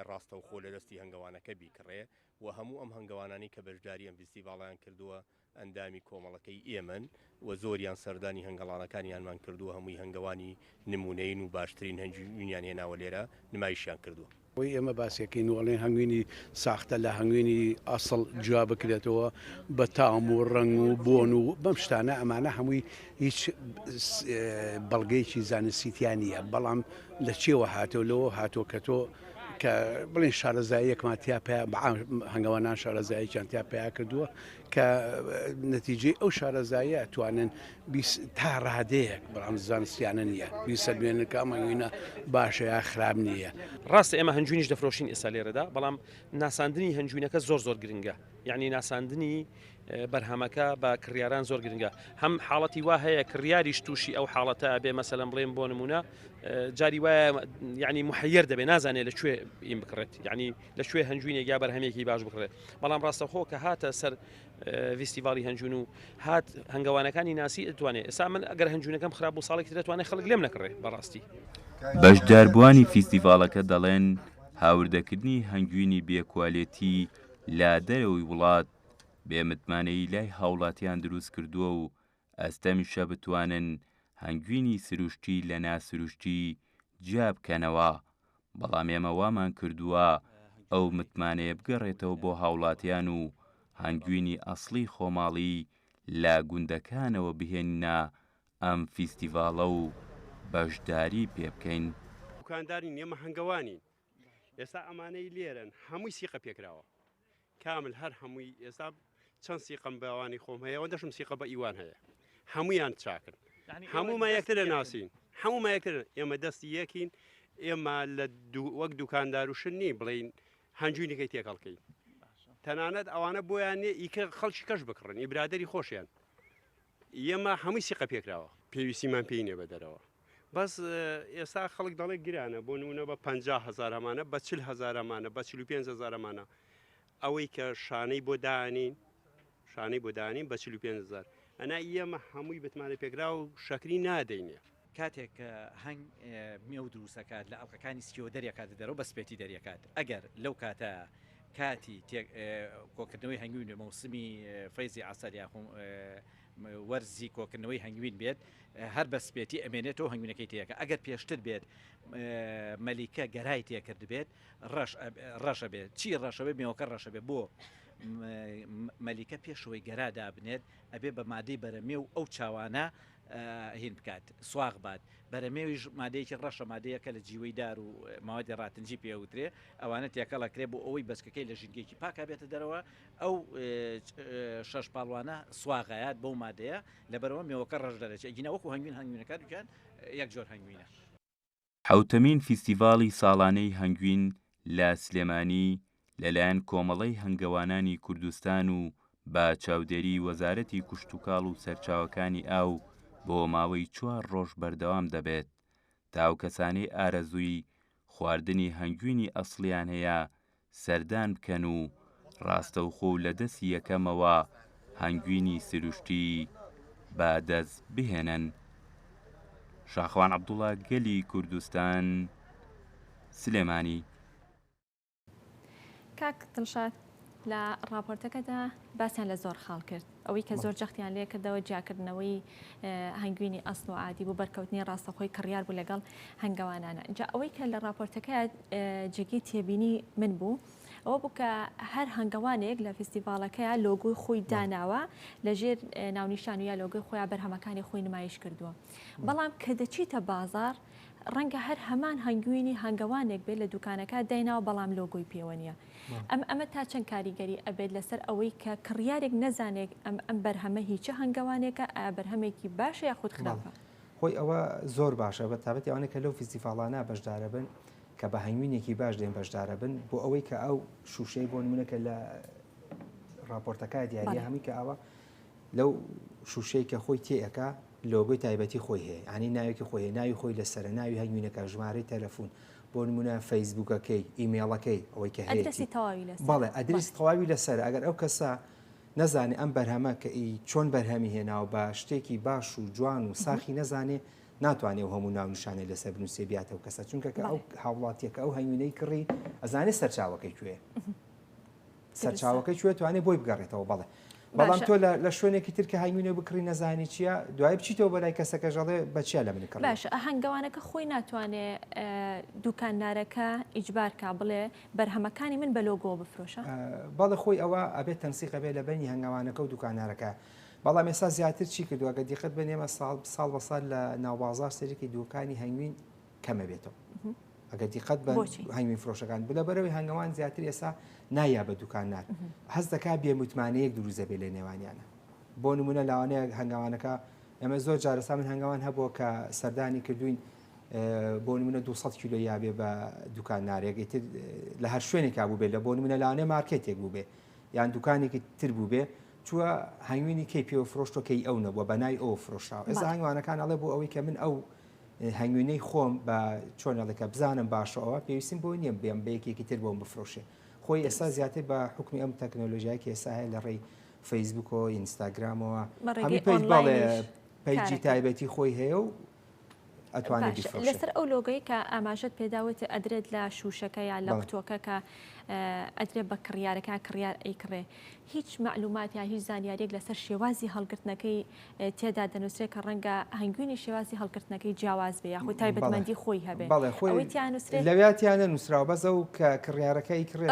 ڕاستەوخۆ لە دەستی هەنگەوانەکە بیکڕێ و هەموو ئەم هەنگەوانانەی کە بەشداری ئەم ڤیستیڤاڵەیان کردووە ئەندامی کۆمەڵەکەی ئێمەن و زۆریان سەردانی هەنگەڵانەکانیانمان کردووە، هەمووی هەنگەوانی نموونەیین و باشترین هەنگوینیان هێناوە لێرە نمایشیان کردووە. ئەوەی ئێمە باسیەکەین و ئەڵێن هەنگوینی ساختە لە هەنگوینی ئەسڵ جیا بکرێتەوە بە تام و ڕەنگ و بۆن و بەم شتانە ئەمانە هەمووی هیچ بەڵگەیەکی زانستی تیا نییە، بەڵام لە چێوە هاتەوە لەوە هاتووە کە تۆ کە بڵێن شارەزاییەکمان تیا پەیا هەنگەوانان شارەزاییەکیان تیا پەیا کردووە، کە نەتیجەی ئەو شارەزاییە ئەتوانن تا ڕادەیەک بەڵام زانستیانە نییە بیسەلمێنن کە ئەمە وینە باشە یا خراب نییە ڕاستە ئێمە هەنجوینیش دەفرۆشین ئێستا لێرەدا بەڵام ناساندنی هەنجوینەکە زۆر زۆر گرنگە یعنی ناساندنی بەرهەمەکە بە کڕیاران زۆر گرنگە هەم حاڵەتی وا هەیە کڕیاریش تووشی ئەو حاڵەتە بێ مەسەلم بڵێن بۆ نمونە جاری وایە ینی محەر دەبێ نازانێت لە کوێ ئیم بکڕێت ینی لە کوێ هەنجوینێک یا بەرهەمێکی باش بکڕێت بەڵام ڕاستەخۆ کە هاتە سەر ڤیستیڤالی هەنجون و هات هەنگەوانەکانی ناسی ئەتوانێت ئێستا من ئەگەر هەنجونەکەم خراپ بۆ ساڵێکی دەتوانێت خەڵک لێم نەکڕێ بەڕاستی بەشداربووانی فیستیڤالەکە دەڵێن هاوردەکردنی هەنگوینی بێکوالێتی لە دەرەوەی وڵات بێ متمانەی لای هاوڵاتیان دروست کردووە و ئەستەمیشە بتوانن هەنگوینی سروشتی لە ناسروشتی جیا بکەنەوە، بەڵام ئێمە وامان کردووە ئەو متمانەیە بگەڕێتەوە بۆ هاوڵاتیان و هەنگوینی ئەسڵی خۆماڵی لە گوندەکانەوە بهێنینە ئەم فیستیڤاڵە و بەشداری پێبکەین. دوکاندار نین ئێمە هەنگەوانین. ئێستا ئەمانەی لێرەن هەمووی سیقە پێکراوە کامل هەر هەمووی ئێستا چەند سیقم بەوانی خۆم هەیە و دەشم سیقە بە ئیوان هەیە هەمویان چاکن هەموومە یەکتر لە ناسین هەموومە یەکتر ئێمە دەستی یەکین ئێمە لە وەک دوکاندار و شنی بڵین هەنجوینەکەی تێکەڵکەین تەنانەت ئەوانە بۆیان نێ ئیکە خەڵکی کەش بکڕن ئی برادری خۆشیان ئێمە هەمووی سیقە پێکراوە پێویستیمان پێی نیە بە دەرەوە بەس ئێستا خەڵک دەڵێ گرانە بۆ نمونە بە 50 هزارمانە بە چل هزارمانە بە 45 هزارمانە ئەوەی کە شانەی بۆ دانین شانەی بۆ دانین بە 45 هزار ئەنا ئێمە هەمووی بتمانە پێکرا و شەکری نادەینێ کاتێک کە هەنگ مێو دروست ئەکات لە ئەڵقەکانی سکیەوە دەریەکاتە دەرەوە بە سپێتی دەریەکات ئەگەر لەو کاتە کاتی کۆکردنەوەی هەنگوین بێ مەوسمی فەیزی عسەر یاخۆ وەرزی کۆکردنەوەی هەنگوین بێت هەر بە سپێتی ئەمێنێتەوە هەنگوینەکەی تێکە ئەگەر پێشتر بێت مەلیکە گەرای تێکرد بێت ڕەشە بێت چی ڕەشەوەی مێوەکە ڕەشە بێ بۆ مەلیکە پێشەوەی گەرا دابنێت ئەبێ بە مادەی بەرەمێ و ئەو چاوانە هین بکات سواغ بات، بەرەمێویش مادەیەکی ڕەشە مادەیەکە لە جیوەی دار و مەوادی ڕاتنجی پێ ئەوترێ ئەوانە تێکەڵ ئەکرێ بۆ ئەوەی بەچکەکەی لە ژینگەیەکی پاکا بێتە دەرەوە ئەو شەش پاڵوانە سواغ ئەیات بەو مادەیە لەبەرەوە مێوەکە ڕەش دەرەچێ ئەگینا وەکو هەنگوین هەنگوینەکان یەک جۆر هەنگوینە. حەوتەمین فیستیڤاڵی ساڵانەی هەنگوین لە سلێمانی لەلایەن کۆمەڵەی هەنگەوانانی کوردستان و بە چاودێری وەزارەتی کشتوکاڵ و سەرچاوەکانی ئاو بۆ ماوەی چوار ڕۆژ بەردەوام دەبێت تا ئەو کەسانەی ئارەزووی خواردنی هەنگوینی ئەسڵیان هەیە سەردان بکەن و ڕاستەوخۆ و لە دەستی یەکەمەوە هەنگوینی سروشتی بە دەست بهێنن. شاخوان عەبدوڵا گەلی کوردستان سلێمانی. کاک دڵشاد لە ڕاپۆرتەکەدا باسیان لە زۆر خاڵ کرد، ئەوەی کە زۆر جەختیان لێ کردەوە جیاکردنەوەی هەنگوینی ئەسڵ و عادی بۆ بەرکەوتنی ڕاستەخۆی کڕیار بوو لەگەڵ هەنگەوانانە جا ئەوەی کە لە ڕاپۆرتەکە جێگەی تێبینی من بوو ئەوە بوو کە هەر هەنگەوانێک لە فیستیڤالەکەیە لۆگوی خۆی داناوە لەژێر ناونیشان و یا لۆگەی خۆیان بەرهەمەکانی خۆی نمایش کردووە بەڵام کە دەچیتە بازار ڕەنگە هەر هەمان هەنگوینی هەنگەوانێک بێت لە دوکانەکە دایناوە بەڵام لۆگۆی پێوە نیە ئەم ئەمە تا چەند کاریگەری ئەبێت لەسەر ئەوەی کە کڕیارێک نەزانێک ئەم ئەم بەرهەمە هی چ هەنگەوانێکە ئایا بەرهەمێکی باشە یا خود خراپە؟ خۆی ئەوە زۆر باشە بە تابەتی ئەوانە کە لەو فیستیڤاڵانە بەشدارە بن کە بە هەنگوینێکی باش دێن بەشدارە بن بۆ ئەوەی کە ئەو شووشەی بۆ نمونەکە لە راپۆرتەکە دیارە هەمی کە ئەوە لەو شووشەی کە خۆی تێەکە لۆگوی تایبەتی خۆی هەیە ئەنی ناوێکی خۆی ناوی خۆی لەسرە ناوی هەنگوینەکە ژمارەی تەلەفۆن بۆ نمونە فەیسبوکەکەی ئیمێڵەکەی ئەوەی کە هەیەتی بەڵێ ئەدرس تەواوی لەسەر ئەگەر ئەو کەسە نەزانێ ئەم بەرهەمە کە ئی چۆن بەرهەمی هێناو بە شتێکی باش و جوان و ساخی نەزانێ ناتوانێت هەموو ناونشانێ لەسەر بنووسێ بیاتەوە کەسە چونکە کە ئەو هاوڵاتیەکە ئەو هەنگوینەی کڕی ئەزانێت سەرچاوەکەی کوێ. سەرچاوەکەی کوێ توانێ بۆی بگەڕێتەوە بەڵێ بەڵام تۆ لە شوێنێکی تر کە هایمینە بکڕی نەزانی چییە دوای بچیتەوە بەلای کەسەکە ژەڵێ بەچیا لە منکڕ باش ئەهنگەوانەکە خۆی ناتوانێ دوکاندارەکە ئیجبارکە بڵێ بەرهەمەکانی من بە لۆگۆ بفرۆشە بەڵە خۆی ئەوە ئەبێت تەنسیقە بێ لە بەنی هەنگاوانەکە و دوکانارەکە بەڵام ێسا زیاتر چی کردووە گە دیقەت بنێمە ساڵ ساڵ بە سال لە ناوبازار سەرێکی دوکانی هەنگوین کەمە بێتەوە ئەگە دیقەت بە هەنگوین فرۆشەکان بلە بەرەوەی هەنگەوان زیاتر ئێسا نایا بە دوکان نار هەست دەکا بێ متمانەیەک دروزە بێ لە نێوانیانە بۆ نمونە لاوانەیە هەنگاوانەکە ئەمە زۆر جارەسا من هەنگاوان هەبووە کە سەردانی کردوین بۆ منە 200 کیلو یاێ بە دوکان نارێگەی تر لە هەر شوێنێکا بوو بێت لە بۆ منە لاانێ مارکێتێک بوو بێ یان دوکانێکی تر بوو بێ چووە هەنگوینی کەی پێوە فرۆشتۆکەی ئەو نەبووە بەنای ئەو فرۆشاوە ئێستا هەنگوانەکان ئەڵێ بۆ ئەوەی کە من ئەو هەنگوینەی خۆم بە چۆن ئەڵێ کە بزانم باشە ئەوە پێویستیم بۆی نییە بێم بە یەکێکی تر بۆم بفرۆشێ خۆی ئێستا زیاتر بە حکومی ئەم تەکنۆلۆژیای کە ئێستا هەیە لە ڕێی فەیسبوکەوە ئینستاگرامەوە بە ڕێگەی هەمی پێج باڵێ ئۆنلاینیش پیجی کارەکە. تایبەتی خۆی هەیە و ئەتوانێت باش بیفرۆشێت لەسەر ئەو لۆگەی کە ئاماژەت پێداوت ئەدرێت لە شوشەکە یا لە بەڵێ. قوتوەکە کە اه، ئەدرێت بە کڕیارەکە کڕیار ئەیکڕێ هیچ مەعلومات یا هیچ زانیاریەک لەسەر شێوازی هەڵگرتنەکەی تێدا دەنووسرێت کە ڕەنگە هەنگوینی شێوازی هەڵگرتنەکەی جیاواز بێ یاخود تایبەتمەندی خۆی هەبێ بەڵێ خۆی تیانووسێت لەویا تیانە نووسراوە بەس ئەو کە کڕیارەکەی کڕێت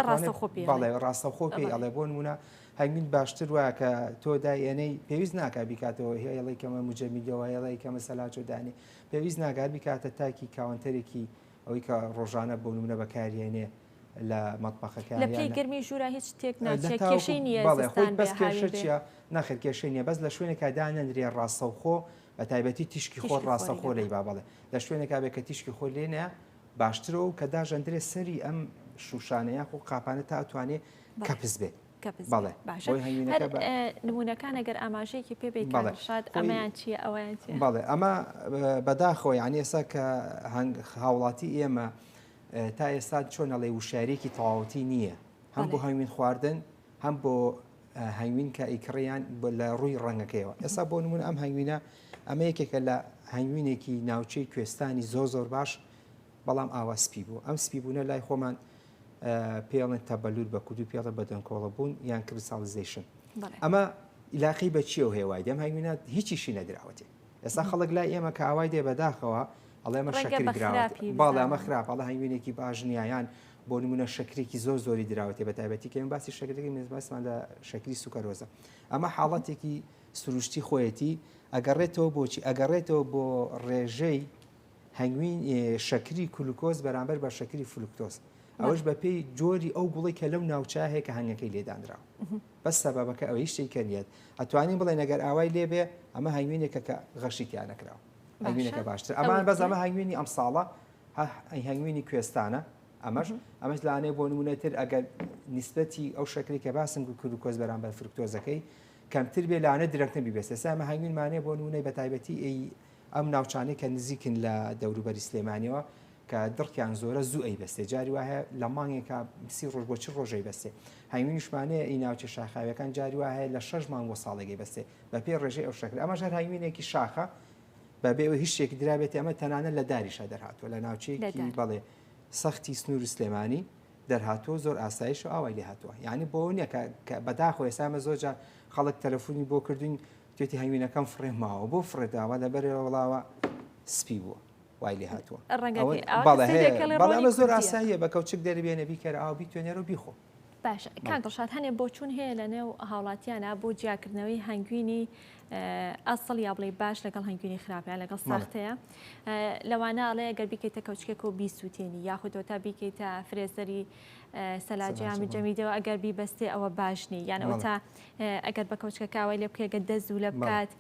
بەڵێ ڕاستە خۆ پێی ئەڵێ بۆ نمونە هەنگوین باشتر وایە کە تۆ دایێنەی پێویست ناکە بیکاتەوە هێڵی کەمە مجەمیدەوە هێڵی کەمە سەلاچۆدانی پێویست ناگار بیکاتە تاکی کاونتەرێکی ئەوەی کە ڕۆژانە بۆ نمونە بەکاریێنێ لە مەتبەخەکە لە پلەی گەرمی ژوورا هیچ تێک ناچێت کێشەی نییە زستان بێ هاوین بێ چیە ناخێر کێشەی نییە بەس لە شوێنێکا دانەنرێ ڕاستەوخۆ بە تایبەتی تیشکی خۆر ڕاستەخۆ لەی با بەڵێ لە شوێنێکا بێ کە تیشکی خۆر لێ نیە باشترەوە کە داژەندرێ سەری ئەم شوشانە یاخۆ قاپانە تا ئەتوانێ کەپس بێت بەڵێ باشە نمونونەکان ئەگەر ئاماژەیەکی پێ بڵێشاد ئەمەیان چیە ئەویان بەڵێ ئەمە بەداخۆ یان ئێسا کە هەنگ هاوڵاتی ئێمە تا ئێستا چۆنەڵێ وشارێکی تەواوەتی نییە هەم بۆ هەنگوین خواردن هەم بۆ هەنگوین کە ئیکڕیان لە ڕووی ڕەنگەکەیەوە ئێستا بۆ نمونە ئەم هەنگوینە ئەمە یەکێکە لە هەنگوینێکی ناوچەی کوێستانی زۆر زۆر باش بەڵام ئاوا سپی بوو ئەم سپی بوونە لای خۆمان پێڵێن تەبەلول بە کوردی پێڵە بەدەنکۆڵە بوون یان کریساڵیزەیشن ئەمە ئیلاقی بە چیەوە هەیە وای دەم هەنگوینات هیچیشی نەدراوەتێ ئێستا خەڵک لای ئێمە کە ئاوای دێ بەداخەوە ئەڵێمە شەکر دراوەت باڵامە خراپ ئەڵە هەنگوینێکی باش نیایان بۆ نمونە شەکرێکی زۆر زۆری دراوەتێ بە تایبەتی کەم باسی شەکرێکی مێزباسمان لە شەکری سوکەرۆزە ئەمە حاڵەتێکی سروشتی خۆیەتی ئەگەڕێتەوە بۆچی ئەگەڕێتەوە بۆ ڕێژەی هەنگوین شەکری کلوکۆز بەرامبەر بە شەکری فلوکتۆز ئەوەش بە پێی جۆری ئەو گوڵی کە لەو ناوچە هەیە کە هەنگەکەی لێدانراوە بە سەبەکە ئەوەی شتێک کە نیت ئەتوانی بڵێ نەگەر ئاوای لێبێ ئەمە هەنگوینێکە کە غەشی تیانەکراوە هەنگوینەکە باشتر ئەمان بەس ئەمە هەنگوینی ئەم ساڵە هەنگوینی کوێستانە ئەمەش ئەمەش لانێ بۆ نمونەتر ئەگەر نسبەتی ئەو شکری کە باسم گو کرد و کۆز بەرامبەر فرکتۆزەکەی کەمتر بێ لانە درەکتن بیبێت سامە هەنگوین مانێ بۆ نمونەی بە تایبەتی ئەم ناوچانەی کە نزیکن لە دەوروبەری سلێمانیەوە کە دڕکیان زۆرە زوو ئەیبەستێ جاری وایە لە مانگێکا سی ڕۆژ بۆ چ ڕۆژەی بەستێ هەنگوی نیشمانەیە ئی ناوچە شاخاویەکان جاری وایە لە شەش مانگ بۆ ساڵێکی بەستێ بە پێی ڕێژەی ئەو شەکر ئەمە ژەر هەنگوینێکی شاخە بە بێ ئەوی هیچ شتێکی درابێت ئەمە تەنانە لە داریشا دەرهاتوە لە ناوچەیەکی بەڵێ سەختی سنوور و سلێمانی دەرهاتوە زۆر ئاسایش و ئاوای لێ هاتووە یعنی بۆ نیە کە بەداخۆ ئێسامە زۆرجار خەڵک تەلەفۆنی بۆ کردوین گوێتی هەنگوینەکەم فڕێ ماوە بۆ فڕێ داوە لە بەرێ وڵاوە سپی بووە وای لێ هاتووە بەڵێ زۆر ئاساییە بە کەوچک دەربێنە بیکەرە ئاو بیتوێنەر و بیخۆ باش کاک دڵشاد هەنێ بۆچون هەیە لە نێو هاوڵاتیانە بۆ جیاکردنەوەی هەنگوینی ئەسڵ یا بڵێ باش لەگەڵ هەنگوینی خراپە لەگەڵ ساختەیە لەوانە ئەڵێ گەر بیکەیتە کەوچکێک و بیسووتێنی یاخودەوە تا بیکەیتە فرێزەری سەلاجیامی جەمیدەوە ئەگەر بیبەستێ ئەوە باشنی یانەوە تا ئەگەر بە کەوچکە کاوای لێ بکەی گە دەست زوو لە بکات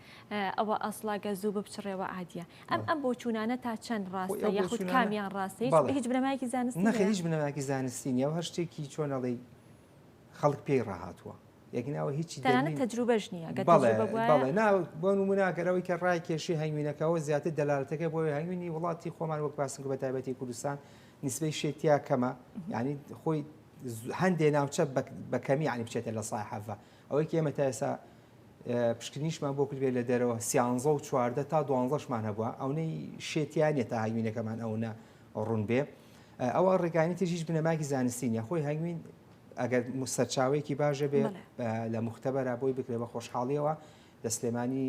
ئەوە ئەسڵا گە زوو بپچڕێەوە عادیە ئەم ئەم بۆ چوونانە تا چەند ڕاستە یاخود کامیان ڕاستە هیچ بنەمایکی زانست نەخ هیچ بنەماکی زانستی نیە هەر شتێکی چۆنەڵی خەڵک پێی ڕاهاتوە یەکناوە هیچی دەنانە تەجروبەش نییە بۆ نموناگەرەوەی کە ڕای کێشی هەنگوینەکەەوە زیاتر دەلالەتەکە بۆ هەنگوینی وڵاتی خۆمان وەک باسم بە تایبەتی کوردستان نسبەی شێتیا کەمە ینی خۆی هەندێ ناوچە بە کەمی یعنی بچێتە لە سای حەڤە ئەوەی کە ئێمە تا ئێستا پشکنیشمان بۆ کردێت لە دەرەوە سیانزە و چواردە تا دوانزەشمان هەبووە ئەونەی شێتیانە تا هاوینەکەمان ئەوە ڕوون بێ ئەوە ڕێگانی تر هیچ بنەماکی زانستین یا خۆی هەنگوین ئەگەر سەرچاوێکی باشە بێ لە مختبەرە بۆی بکرێ بە خۆشحاڵیەوە لە سلێمانی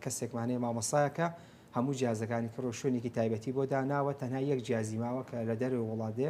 کەسێکمانەیە مامەسایەکە هەموو جیازەکانی کڕۆ شوێنێکی تایبەتی بۆ داناوە تەنها یەک جیازی ماوە کە لە دەرەوە وڵاتێ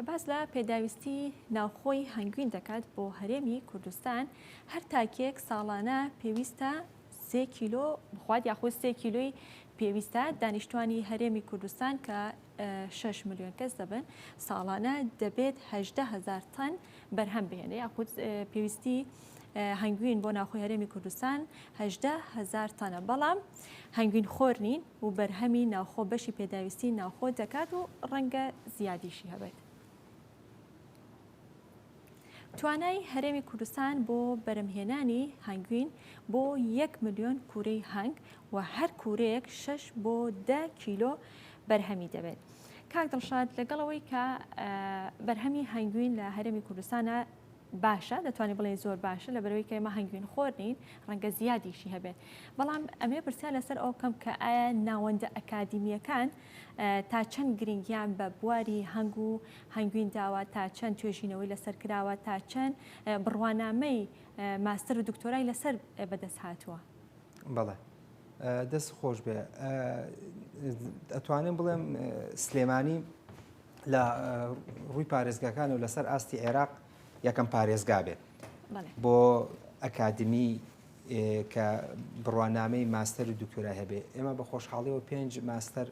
کە باس لە پێداویستی ناوخۆی هەنگوین دەکات بۆ هەرێمی کوردستان هەر تاکێک ساڵانە پێویستە سێ کیلۆ بخوات یاخود سێ کیلۆی پێویستە دانیشتوانی هەرێمی کوردستان کە شەش ملیۆن کەس دەبن ساڵانە دەبێت هەژدە هەزار تەن بەرهەم بهێنێ یاخود پێویستی هەنگوین بۆ ناوخۆی هەرێمی کوردستان هەژدە هەزار تەنە بەڵام هەنگوین خۆر نین و بەرهەمی ناوخۆ بەشی پێداویستی ناوخۆ دەکات و ڕەنگە زیادیشی هەبێت. توانای هەرێمی کوردستان بۆ بەرهەمهێنانی هەنگوین بۆ یەک ملیۆن کورەی هەنگ و هەر کورەیەک شەش بۆ دە کیلۆ بەرهەمی دەبێت. کاک دڵشاد لەگەڵەوەی کە بەرهەمی هەنگوین لە هەرێمی کوردستانە باشە دەتوانانی بڵێ زۆر باشە لە بەرەوەی کە ئێمە هەنگوین خۆر نین ڕەنگە زیادیشی هەبێت بەڵام ئەمێ پرسیار لەسەر ئەو کەم کە ئایا ناوەندە ئەکادیمیەکان تا چەند گرنگیان بە بواری هەنگ و هەنگوین داوە، تا چەند توێژینەوەی لەسەر کراوە، تا چەند بڕوانامەی ماستەر و دکتۆرای لەسەر بەدەست هاتووە؟ بەڵێ دەست خۆش بێ ئەتوانم بڵێم سلێمانی لە ڕووی پارێزگاکان و لەسەر ئاستی عێراق یەکەم پارێزگا بێت بۆ ئەکادمی کە بڕوانامەی ماستەر و دکتۆرای هەبێ ئێمە بە خۆشحاڵیەوە پێنج ماستەر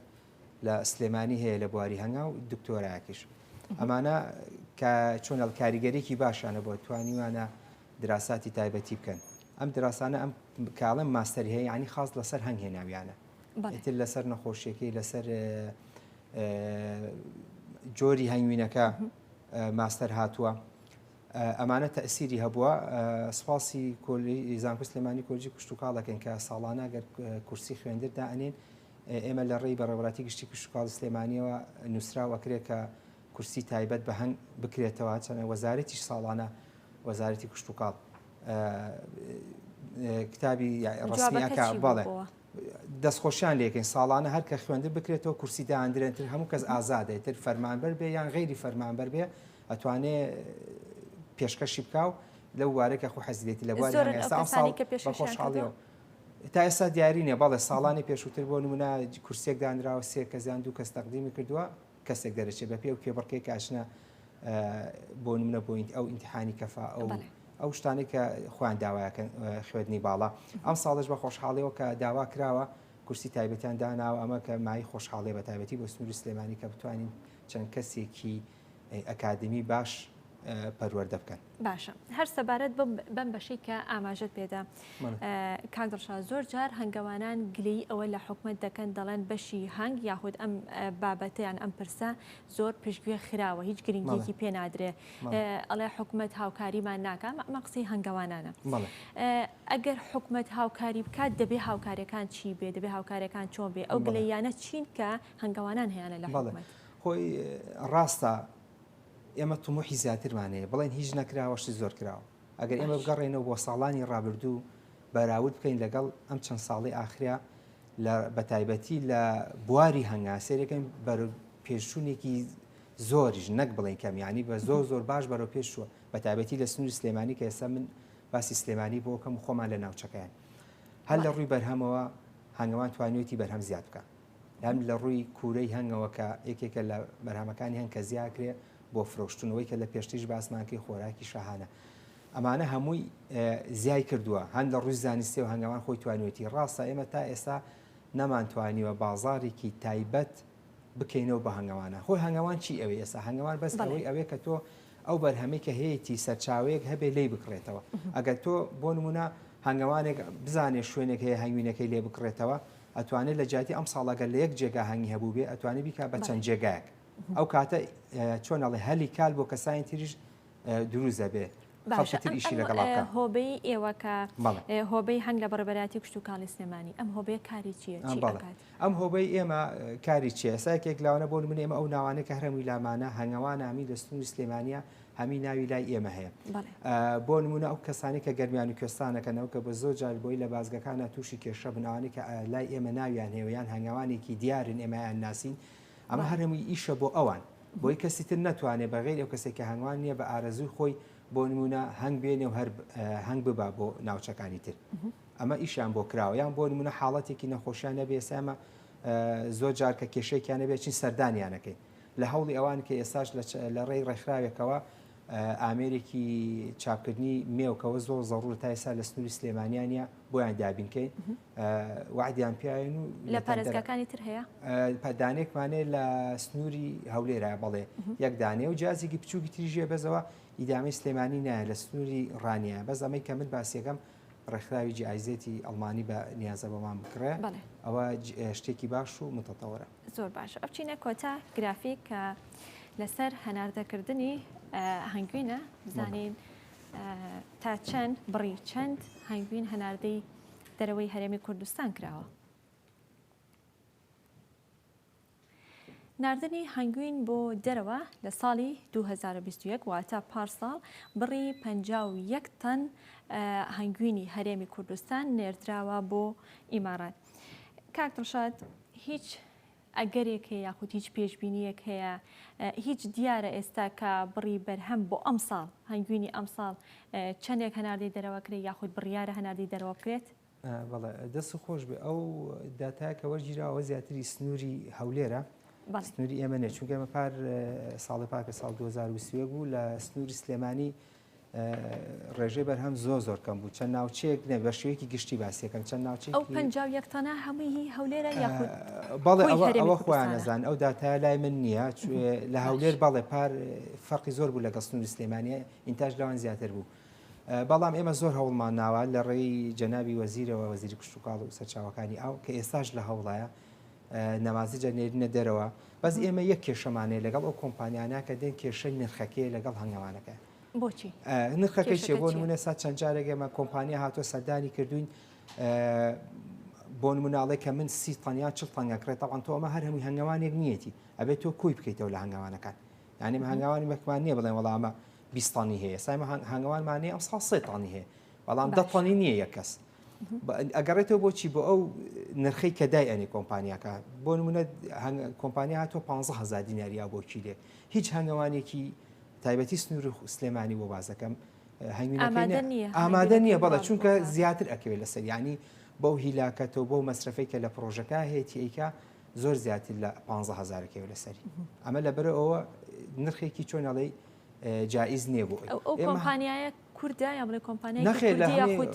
لە سلێمانی هەیە لە بواری هەنگاو دکتۆرایەکیش ئەمانە کە چۆنەڵ کاریگەرێکی باشانە بۆ توانیوانە دراساتی تایبەتی بکەن ئەم دراسانە ئەم کاڵم ماستەر هەیە ینی خاص لەسەر هەنگ هێناویانە تر لەسەر نەخۆشیەکەی لەسەر جۆری هەنگوینەکە ماستەر هاتووە ئەمانە تەسیری هەبووە سپاسی کۆلی زانکو سلێمانی کۆجی پشتتوکاڵەکەن کە ساڵانە گەر کورسی خوێندردا ئەنێن ئێمە لە ڕێی بەڕێوەبەراتی گشتی کشتوکاڵی سلێمانیەوە نوسراو ئەکرێت کە کورسی تایبەت بە هەنگ بکرێتەوە هەرچەندە وەزارەتیش ساڵانە وەزارەتی کشتوکاڵ کتابی ڕسمی ئەکا بەڵێ دەستخۆشیان لێکەین ساڵانە هەر کە خوێندن بکرێتەوە کورسی داندرێنتر هەموو کەس ئازادێت تر فەرمانبەر بێ یان غیری فەرمانبەر بێ ئەتوانێ پێشکەشی بکاو لەو وارێکە خۆ حەزیێتی لە بواری ئەم ساڵی کە پێش خۆشحاڵیەوە تا ئێستا دیاری نیە بەڵێ ساڵانی پێشووتر بۆ نمونە کورسێک دانراوە سێ کەزیان دوو کەس تەقدیمی کردووە کەسێک دەرەچێت بە پێ و کێبڕکێک ئاچنە بۆ نمونە بۆین ئەو ئینتحانی کەفا ئەو ئەو شتانی کە خۆیان داوایەکەن خوێندنی باڵا ئەم ساڵش بە خۆشحاڵیەوە کە داوا کراوە کورسی تایبەتیان داناوە ئەمە کە مای خۆشحاڵێ بە تایبەتی بۆ سنووری سلێمانی کە بتوانین چەند کەسێکی ئەکادیمی باش پەروەردە بکەن. باشە هەر سەبارەت بەم بەشی کە ئاماژەت پێدا کاک دڵشا زۆر جار هەنگەوانان گلەی ئەوە لە حکومت دەکەن دەڵێن بەشی هەنگ یاخود ئەم بابەتیان ئەم پرسە زۆر پشتگوێ خراوە هیچ گرنگێکی پێ نادرێ ئەڵێ حکومت هاوکاریمان ناکە ئەمە قسەی هەنگەوانانە ئەگەر حکومت هاوکاری بکات دەبێ هاوکارەکان چی بێ دەبێ هاوکارەکان چۆن بێ ئەو گلەیانە چین کە هەنگەوانان هیانە لە حکومت. خۆی ڕاستە ئێمە تموحی زیاترمان هەیە بڵێن هیچ نەکراوە شتی زۆر کراوە ئەگەر ئێمە بگەڕێنەوە بۆ ساڵانی ڕابردوو بەراورد بکەین لەگەڵ ئەم چەند ساڵی ئاخریا لە بەتایبەتی لە بواری هەنگا سێرەکەم بەر پێشچوونێکی زۆریش نەک بڵێن کەم ینی بە زۆر زۆر باش بەرەو پێشوە بە تابەتی لە سنووری سلێمانی کە ئێستا من باسی سلێمانی بۆکەم خۆمان لە ناوچەکەیان هەر لە ڕووی بەرهەمەوە هەنگوان توانیوتی بەرهەم زیاد بکە یان لە ڕووی کوورەی هەنگەوە کە یەکێکە لە بەرهەمەکانی هەنگ کە زیاکرێ بۆ فرۆشتنەوەی کە لە پێشتیش باسمانکەی خۆراکی شاهانە ئەمانە هەمووی زیای کردووە هەند لە ڕووی زانستی و هەنگەوان خۆی توانێتی ڕاستە ئێمە تا ئێستا نەمانتوانیوە بازارێکی تایبەت بکەینەوە بە هەنگەوانە خۆی هەنگەوان چی ئەوێ ئێستا هەنگەوان بەس ئەوەی ئەوێ کە تۆ ئەو بەرهەمەی کە هەیەی سەرچاوەیەک هەبێ لی بکڕێتەوە ئەگەر تۆ بۆ نمونە هەنگەوانێک بزانێ شوێنێک هەیە هەنگوینەکەی لێ بکڕێتەوە ئەتوانێ لە جیاتی ئەمساڵ ئەگەر لە یەک جێگا هەنگی هەبووبێ ئەتوانێ بیکا بە چەند جێگایەک ئەو کاتە چۆن ئەڵێ هەلی کال بۆ کەسانی تریش دروست دەبێ خەڵکتر ئیشی لەگەڵا بکە هۆبەی ئێوە کە هۆبەی هەنگ لە بەڕێبەراتی کوشت و کاڵی سلێمانی ئەم هۆبەیە کاری چیە ئەم هۆبەی ئێمە کاری چێ سایکێک لاوانە بۆ من ئێمە ئەو ناوانێک کە هەرەمووی لامانە هەنگەوانامی لە سنووری سلێمانە هەمی ناوی لای ئێمە هەیە بۆ نمونە ئەو کەسانی کە گەرمیان و کوێستانەکەنەوە کە بە زۆر جار بۆی لە بازگەکانە تووشی کێشە بناوانی کە لای ئێمە ناویان هێوەیان هەنگاوانێکی دیارن ئێمەیان ناسین ئەمە هەرەمووی ئیشە بۆ ئەوان بۆی کەسی تر ناتوانێت بەغیر ئەو کەسێک کە هەنگوان نییە بە ئارەزوی خۆی بۆ نمونە هەنگ بێنێ و هەر هەنگ ببا بۆ ناوچەکانی تر ئەمە ئیشیان بۆ کراوە یان بۆ نمونە حاڵەتێکی نەخۆشیان نەبێسەمە زۆر جارکە کێشێکیان نەبێت چین سەردانیانەکەین لە هەوڵی ئەوان کە ئێستاش لە ڕێی ڕێکخراوێکەوە ئامێرێکی چاپکردنی مێوکەوە زۆر زەڕور تا ئێستا لە سنووری سلێمانیانە بۆیان دابینکەین وعدیان پیاوێن و لە پارێزگاکانی تر هەیە پادانێکمانێ لە سنووری هەولێرا بڵێ یەک دانێ و جیازێکی بچووکی تریژێ بەزەوە ئیدامی سلێمانی نایە لە سنووری ڕانیە بەس ئەمەی کە من باسیەکەم ڕێکخراوی جیایزێتی ئەڵمانی بە نیازە بەمان بکڕێ ئەوە شتێکی باش و متەتەوەرە. زۆر باشە ئەبچینە کۆتا گرافیک کە لەسەر هەناردەکردنی هەنگوینە بزانین تا چەند بڕی چەند هەنگوین هەناردەی دەرەوەی هەرێمی کوردستان کراوە نردنی هەنگوین بۆ دەرەوە لە ساڵی 2021 واتە پارساڵ بڕی 51 تەن هەنگوینی هەرێمی کوردستان نێردراوە بۆ ئیمارات کاک دڵشاد هیچ ئەگەرێک هەیە یاخود هیچ پێشبینییەک هەیە؟ هیچ دیارە ئێستا کە بڕی بەرهەم بۆ ئەمساڵ هەنگوینی ئەمساڵ چەندێک هەناردەی دەرەوە کرێت یاخود بڕیارە هەناردەی دەرەوە بکرێت؟ بەڵێ دەست خۆش بێ ئەو داتایە کە وەرگیراوە زیاتری سنووری هەولێرە سنووری ئێمە نێ چونکە ئێمە پار ساڵی پاکە ساڵ 2020 بوو لە سنووری سلێمانی ڕێژەی بەرهەم زۆر زۆر کەم بوو چەند ناوچەیەک نە بە شێوەیەکی گشتی باسیەکەم چەند ناوچی ئەو پنج یەکتانە هەمووی هەولێرە یاخود بەڵێ ئەوە خۆیان نەزان ئەو داتا لای من نییە لە هەولێر بەڵێ پار فەرقی زۆر بوو لە گەستنوری سلێمانە ئینتاش لەوان زیاتر بوو. بەڵام ئێمە زۆر هەوڵمان ناوە لە ڕێی جەنابی وەزیرەوە وەزیری کشتتوکاڵ و سەرچاوەکانی ئاو کە ئێستاش لە هەوڵایە نەوازجە نێرینە دەرەوە بەس ئێمە یەک کێشەمانەیە لەگەڵ ئەو کۆمپانیانە کە دێن کێشە نرخەکەی لەگەڵ هەنگەوانەکە بۆچی نرخەکەی چێ بۆ نمونە سا چەند جارێک ئێمە کۆمپانیا هاتووە سەردانی کردوین بۆ مناڵێک کە من سی تەنیا چ تەنگە کرێت تاوان تۆ ئەمە هەر هەمووی هەنگەوانێک نیەتی ئەبێت تۆ کۆی بکەیتەوە لە هەنگەوانەکان ینی هەنگاوانی بەکمان نیە بڵێن وەڵامە بیستانی هەیە سایمە هەنگوانمانێ ئەم ساڵ سێتانی هەیە بەڵام دە تۆنی نییە یەک کەس ئەگەڕێتەوە بۆچی بۆ ئەو نرخەی کە دای ئەنی کۆمپانیاکە بۆ نمونە کۆمپانیا هاتۆ 15هزار دیناریا بۆ کیلێ هیچ هەنگەوانێکی تایبەتی سنوور سلێمانی بۆ بازەکەم ئامادە نییە بەڵە چونکە زیاتر ئەکەوێت لەسەر ینی بەو هیلاکەتەوە بۆ مەسرفەی کە لە پرۆژەکە هەیەی ئەیکە زۆر زیاتر لە 15هزارەکەی لەسەری ئەمە لەبەرەوە نرخێکی چۆنەڵی جایز نییە بۆ ئەو کۆمپانیایە کوردە یا بڵێ کۆمپانیای نەخێر کوردی لە هەمووی یاخود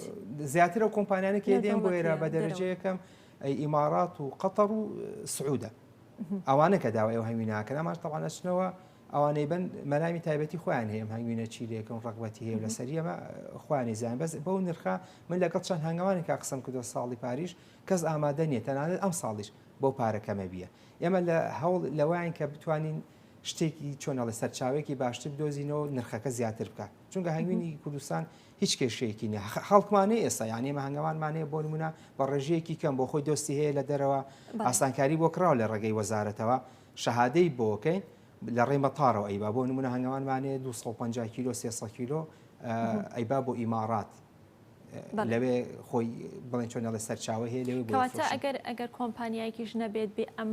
زیاتر ئەو کۆمپانیانە کێ لە دێن بۆ دەوڵەتی ئێرە یا بە لە دەرەوە؟ دەرەجە یەکەم ئەی ئیمارات و قەتەڕ و سعودە ئەوانە کە داوای ئەو هەنگویناکەن ئەماش تەوان ئەچنەوە ئەوانەی بن مەرامی تایبەتی خۆیان هەیە ئەم هەنگوینە چی لێکن ڕغبەتی هەیە و لەسەر ئەمە خۆیانی زیان بەس بەو نرخە من لەگەڵ چەند هەنگوانی کا قسم کردو ساڵی پاریش کەس ئامادە نیە تەنانەت ئەم ساڵیش بەو پارە کەمە بیە ئێمە لە هەوڵ لەوەیان کە بتوانین شتێکی چۆنەڵی سەرچاوێکی باشتر بدۆزینەوە نرخەکە زیاتر بکات چونکە هەنگوینی کوردستان هیچ کێشەیەکی نیە خەڵکمانەی ئێستا یان ئێمە هەنگەوانمانەیە بۆ نمونە بە ڕێژەیەکی کەم بۆ خۆی دۆستی هەیە لە دەرەوە ئاسانکاری بۆ کراوە لە ڕێگەی وەزارەتەوە شەهادەی بۆکەین لە ڕێی مەتارەوە ئەیبا بۆ نمونە هەنگەوانمانەیە 250 کیلۆ 300 کیلۆ ئەیبا بۆ ئیمارات لەوێ خۆی بڵێن چۆن دەڵێ سەرچاوە هەیە لەوێ کەواتە ئەگەر ئەگەر کۆمپانیایکیش نەبێت بێ ئەم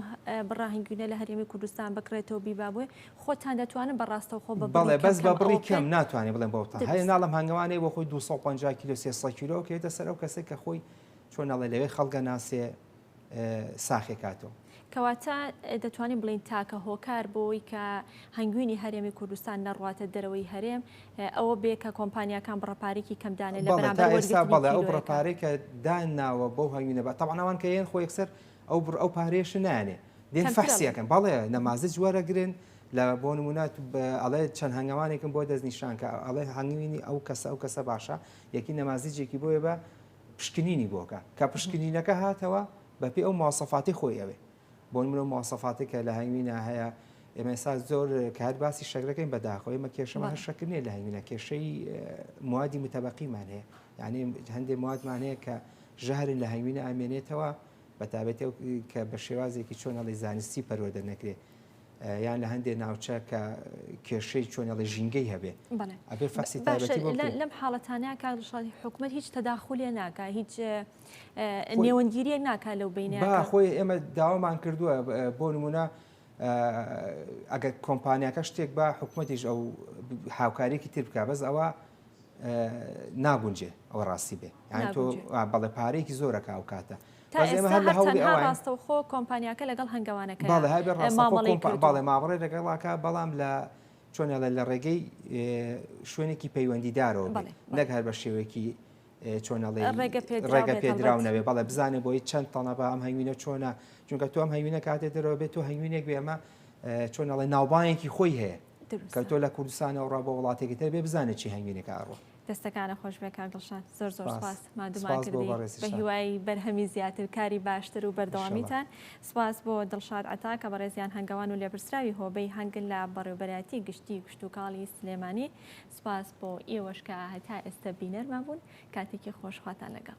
بڕاهنگوینە لە هەرێمی کوردستان بکرێتەوە بیبا بووێ خۆتان دەتوانن بەڕاستەوە خۆ بەڵێ بەس بە بڕی کەم ناتوانێت بڵێن بۆتان هەیە ناڵم هەنگوانێ بۆ خۆی 250 کیلو 300 کیلۆ کێتە سەر ئەو کەسێک کە خۆی چۆن ناڵێ لەوێ خەڵگە ناسێ ساخێ کاتەوە. کەواتە دەتوانین بڵێین تاکە هۆکار بۆی کە هەنگوینی هەرێمی کوردستان نەڕواتە دەرەوەی هەرێم ئەوە بێ کە کۆمپانیاکان بڕەپارێکی کەم دانێ لە بەرامبەر وەرگرتنی کیلۆیەکە. بەڵێ ئەو بڕەپارێکە داناوە بەو هەنگوینە بە تەوانا ئەوان کە یەن خۆ یەکسەر ئەو بڕ ئەو پارێش نانێ دێن فەحسیەکەن بەڵێ نەمازج وەرەگرن لە بۆ نمونە ئەڵێ چەند هەنگەوانێکم بۆ دەستنیشان کە ئەڵێ هەنگوینی ئەو کەسە ئەو کەسە باشە یەکی نەمازجێکی بۆیە بە پشکنینی بۆ کە کە پشکنینەکە هاتەوە بە پێی ئەو مواسەفاتی خۆی ئەوێ بۆ نمرە و مواسەفاتی کە لە هەنگوینا هەیە ئێمە ئێستا زۆر کات باسی شەکرەکەین بەداخۆ ئێمە کێشەمان هەر شەکر نیە لە هەنگوینا کێشەی موادی متەبەقیمان هەیە یعنی هەندێ موادمان هەیە کە ژەهرن لە هەنگوینا ئامێنێتەوە بەتابێت کە بە شێوازێکی چۆن هەڵی زانستی پەروەدە نەکرێت یان لە هەندێ ناوچە کە کێشەی چۆنێڵی ژینگەی هەبێ ئەبێ فەرسی لەم حاڵەتانە کاڵشاڵی حکومەت هیچ تەداخولێ ناکە هیچ نێوەندگیریە ناکە لەو بینە خۆی ئێمە داوامان کردووە بۆ نمونە ئەگەر کۆمپانیاکە شتێک بە حکوومەتیش ئەو هاوکارێکی تر بکە بەس ئەوە ناگونجێ ئەوە ڕاستی بێ یان تۆ بەڵێ پارێکی زۆرەکە ئەو کاتە تا ئێستا هەر تەنها ڕاستەوخۆ کۆمپانیاکە لەگەڵ هەنگەوانەکەیان مامەڵەی کردووە. بەڵێ مامەڵەی لەگەڵا کە بەڵام لە چۆن ئەڵێ لە ڕێگەی شوێنێکی پەیوەندیدارەوە بێ نەک هەر بە شێوەیەکی چۆن ئەڵێ ڕێگە پێدراو نەبێ بەڵێ بزانێ بۆی چەند تەڵەبە ئەم هەنگوینە چۆنە چونکە تۆ ئەم هەنگوینە کاتێ دەرەوە بێت تۆ هەنگوینێک بێ ئەمە چۆن ئەڵێ ناوبانگێکی خۆی هەیە کە تۆ لە کوردستانەوە ڕا بۆ وڵاتێکی تر بێ بزانێت چی هەنگوینێکە ئەڕۆ. دەستەکانت خۆشبێت کاک دڵشاد زۆر زۆر سپاس سپاس ماندوومان سپاس بۆ کردی بەڕێزت بە شاد هیوای بەرهەمی زیاتر کاری باشتر و ئیشەڵا بەردەوامیتان سپاس بۆ دڵشاد عەتا کە بەڕێزیان هەنگەوان و لێپرسراوی هۆبەی هەنگ لە بەڕێوبەرایەتی گشتی کشتوکاڵی سلێمانی سپاس بۆ ئێوەش کە هەتا ئێستە بینەرمان بوون کاتێکی خۆش خواتان لەگەڵ.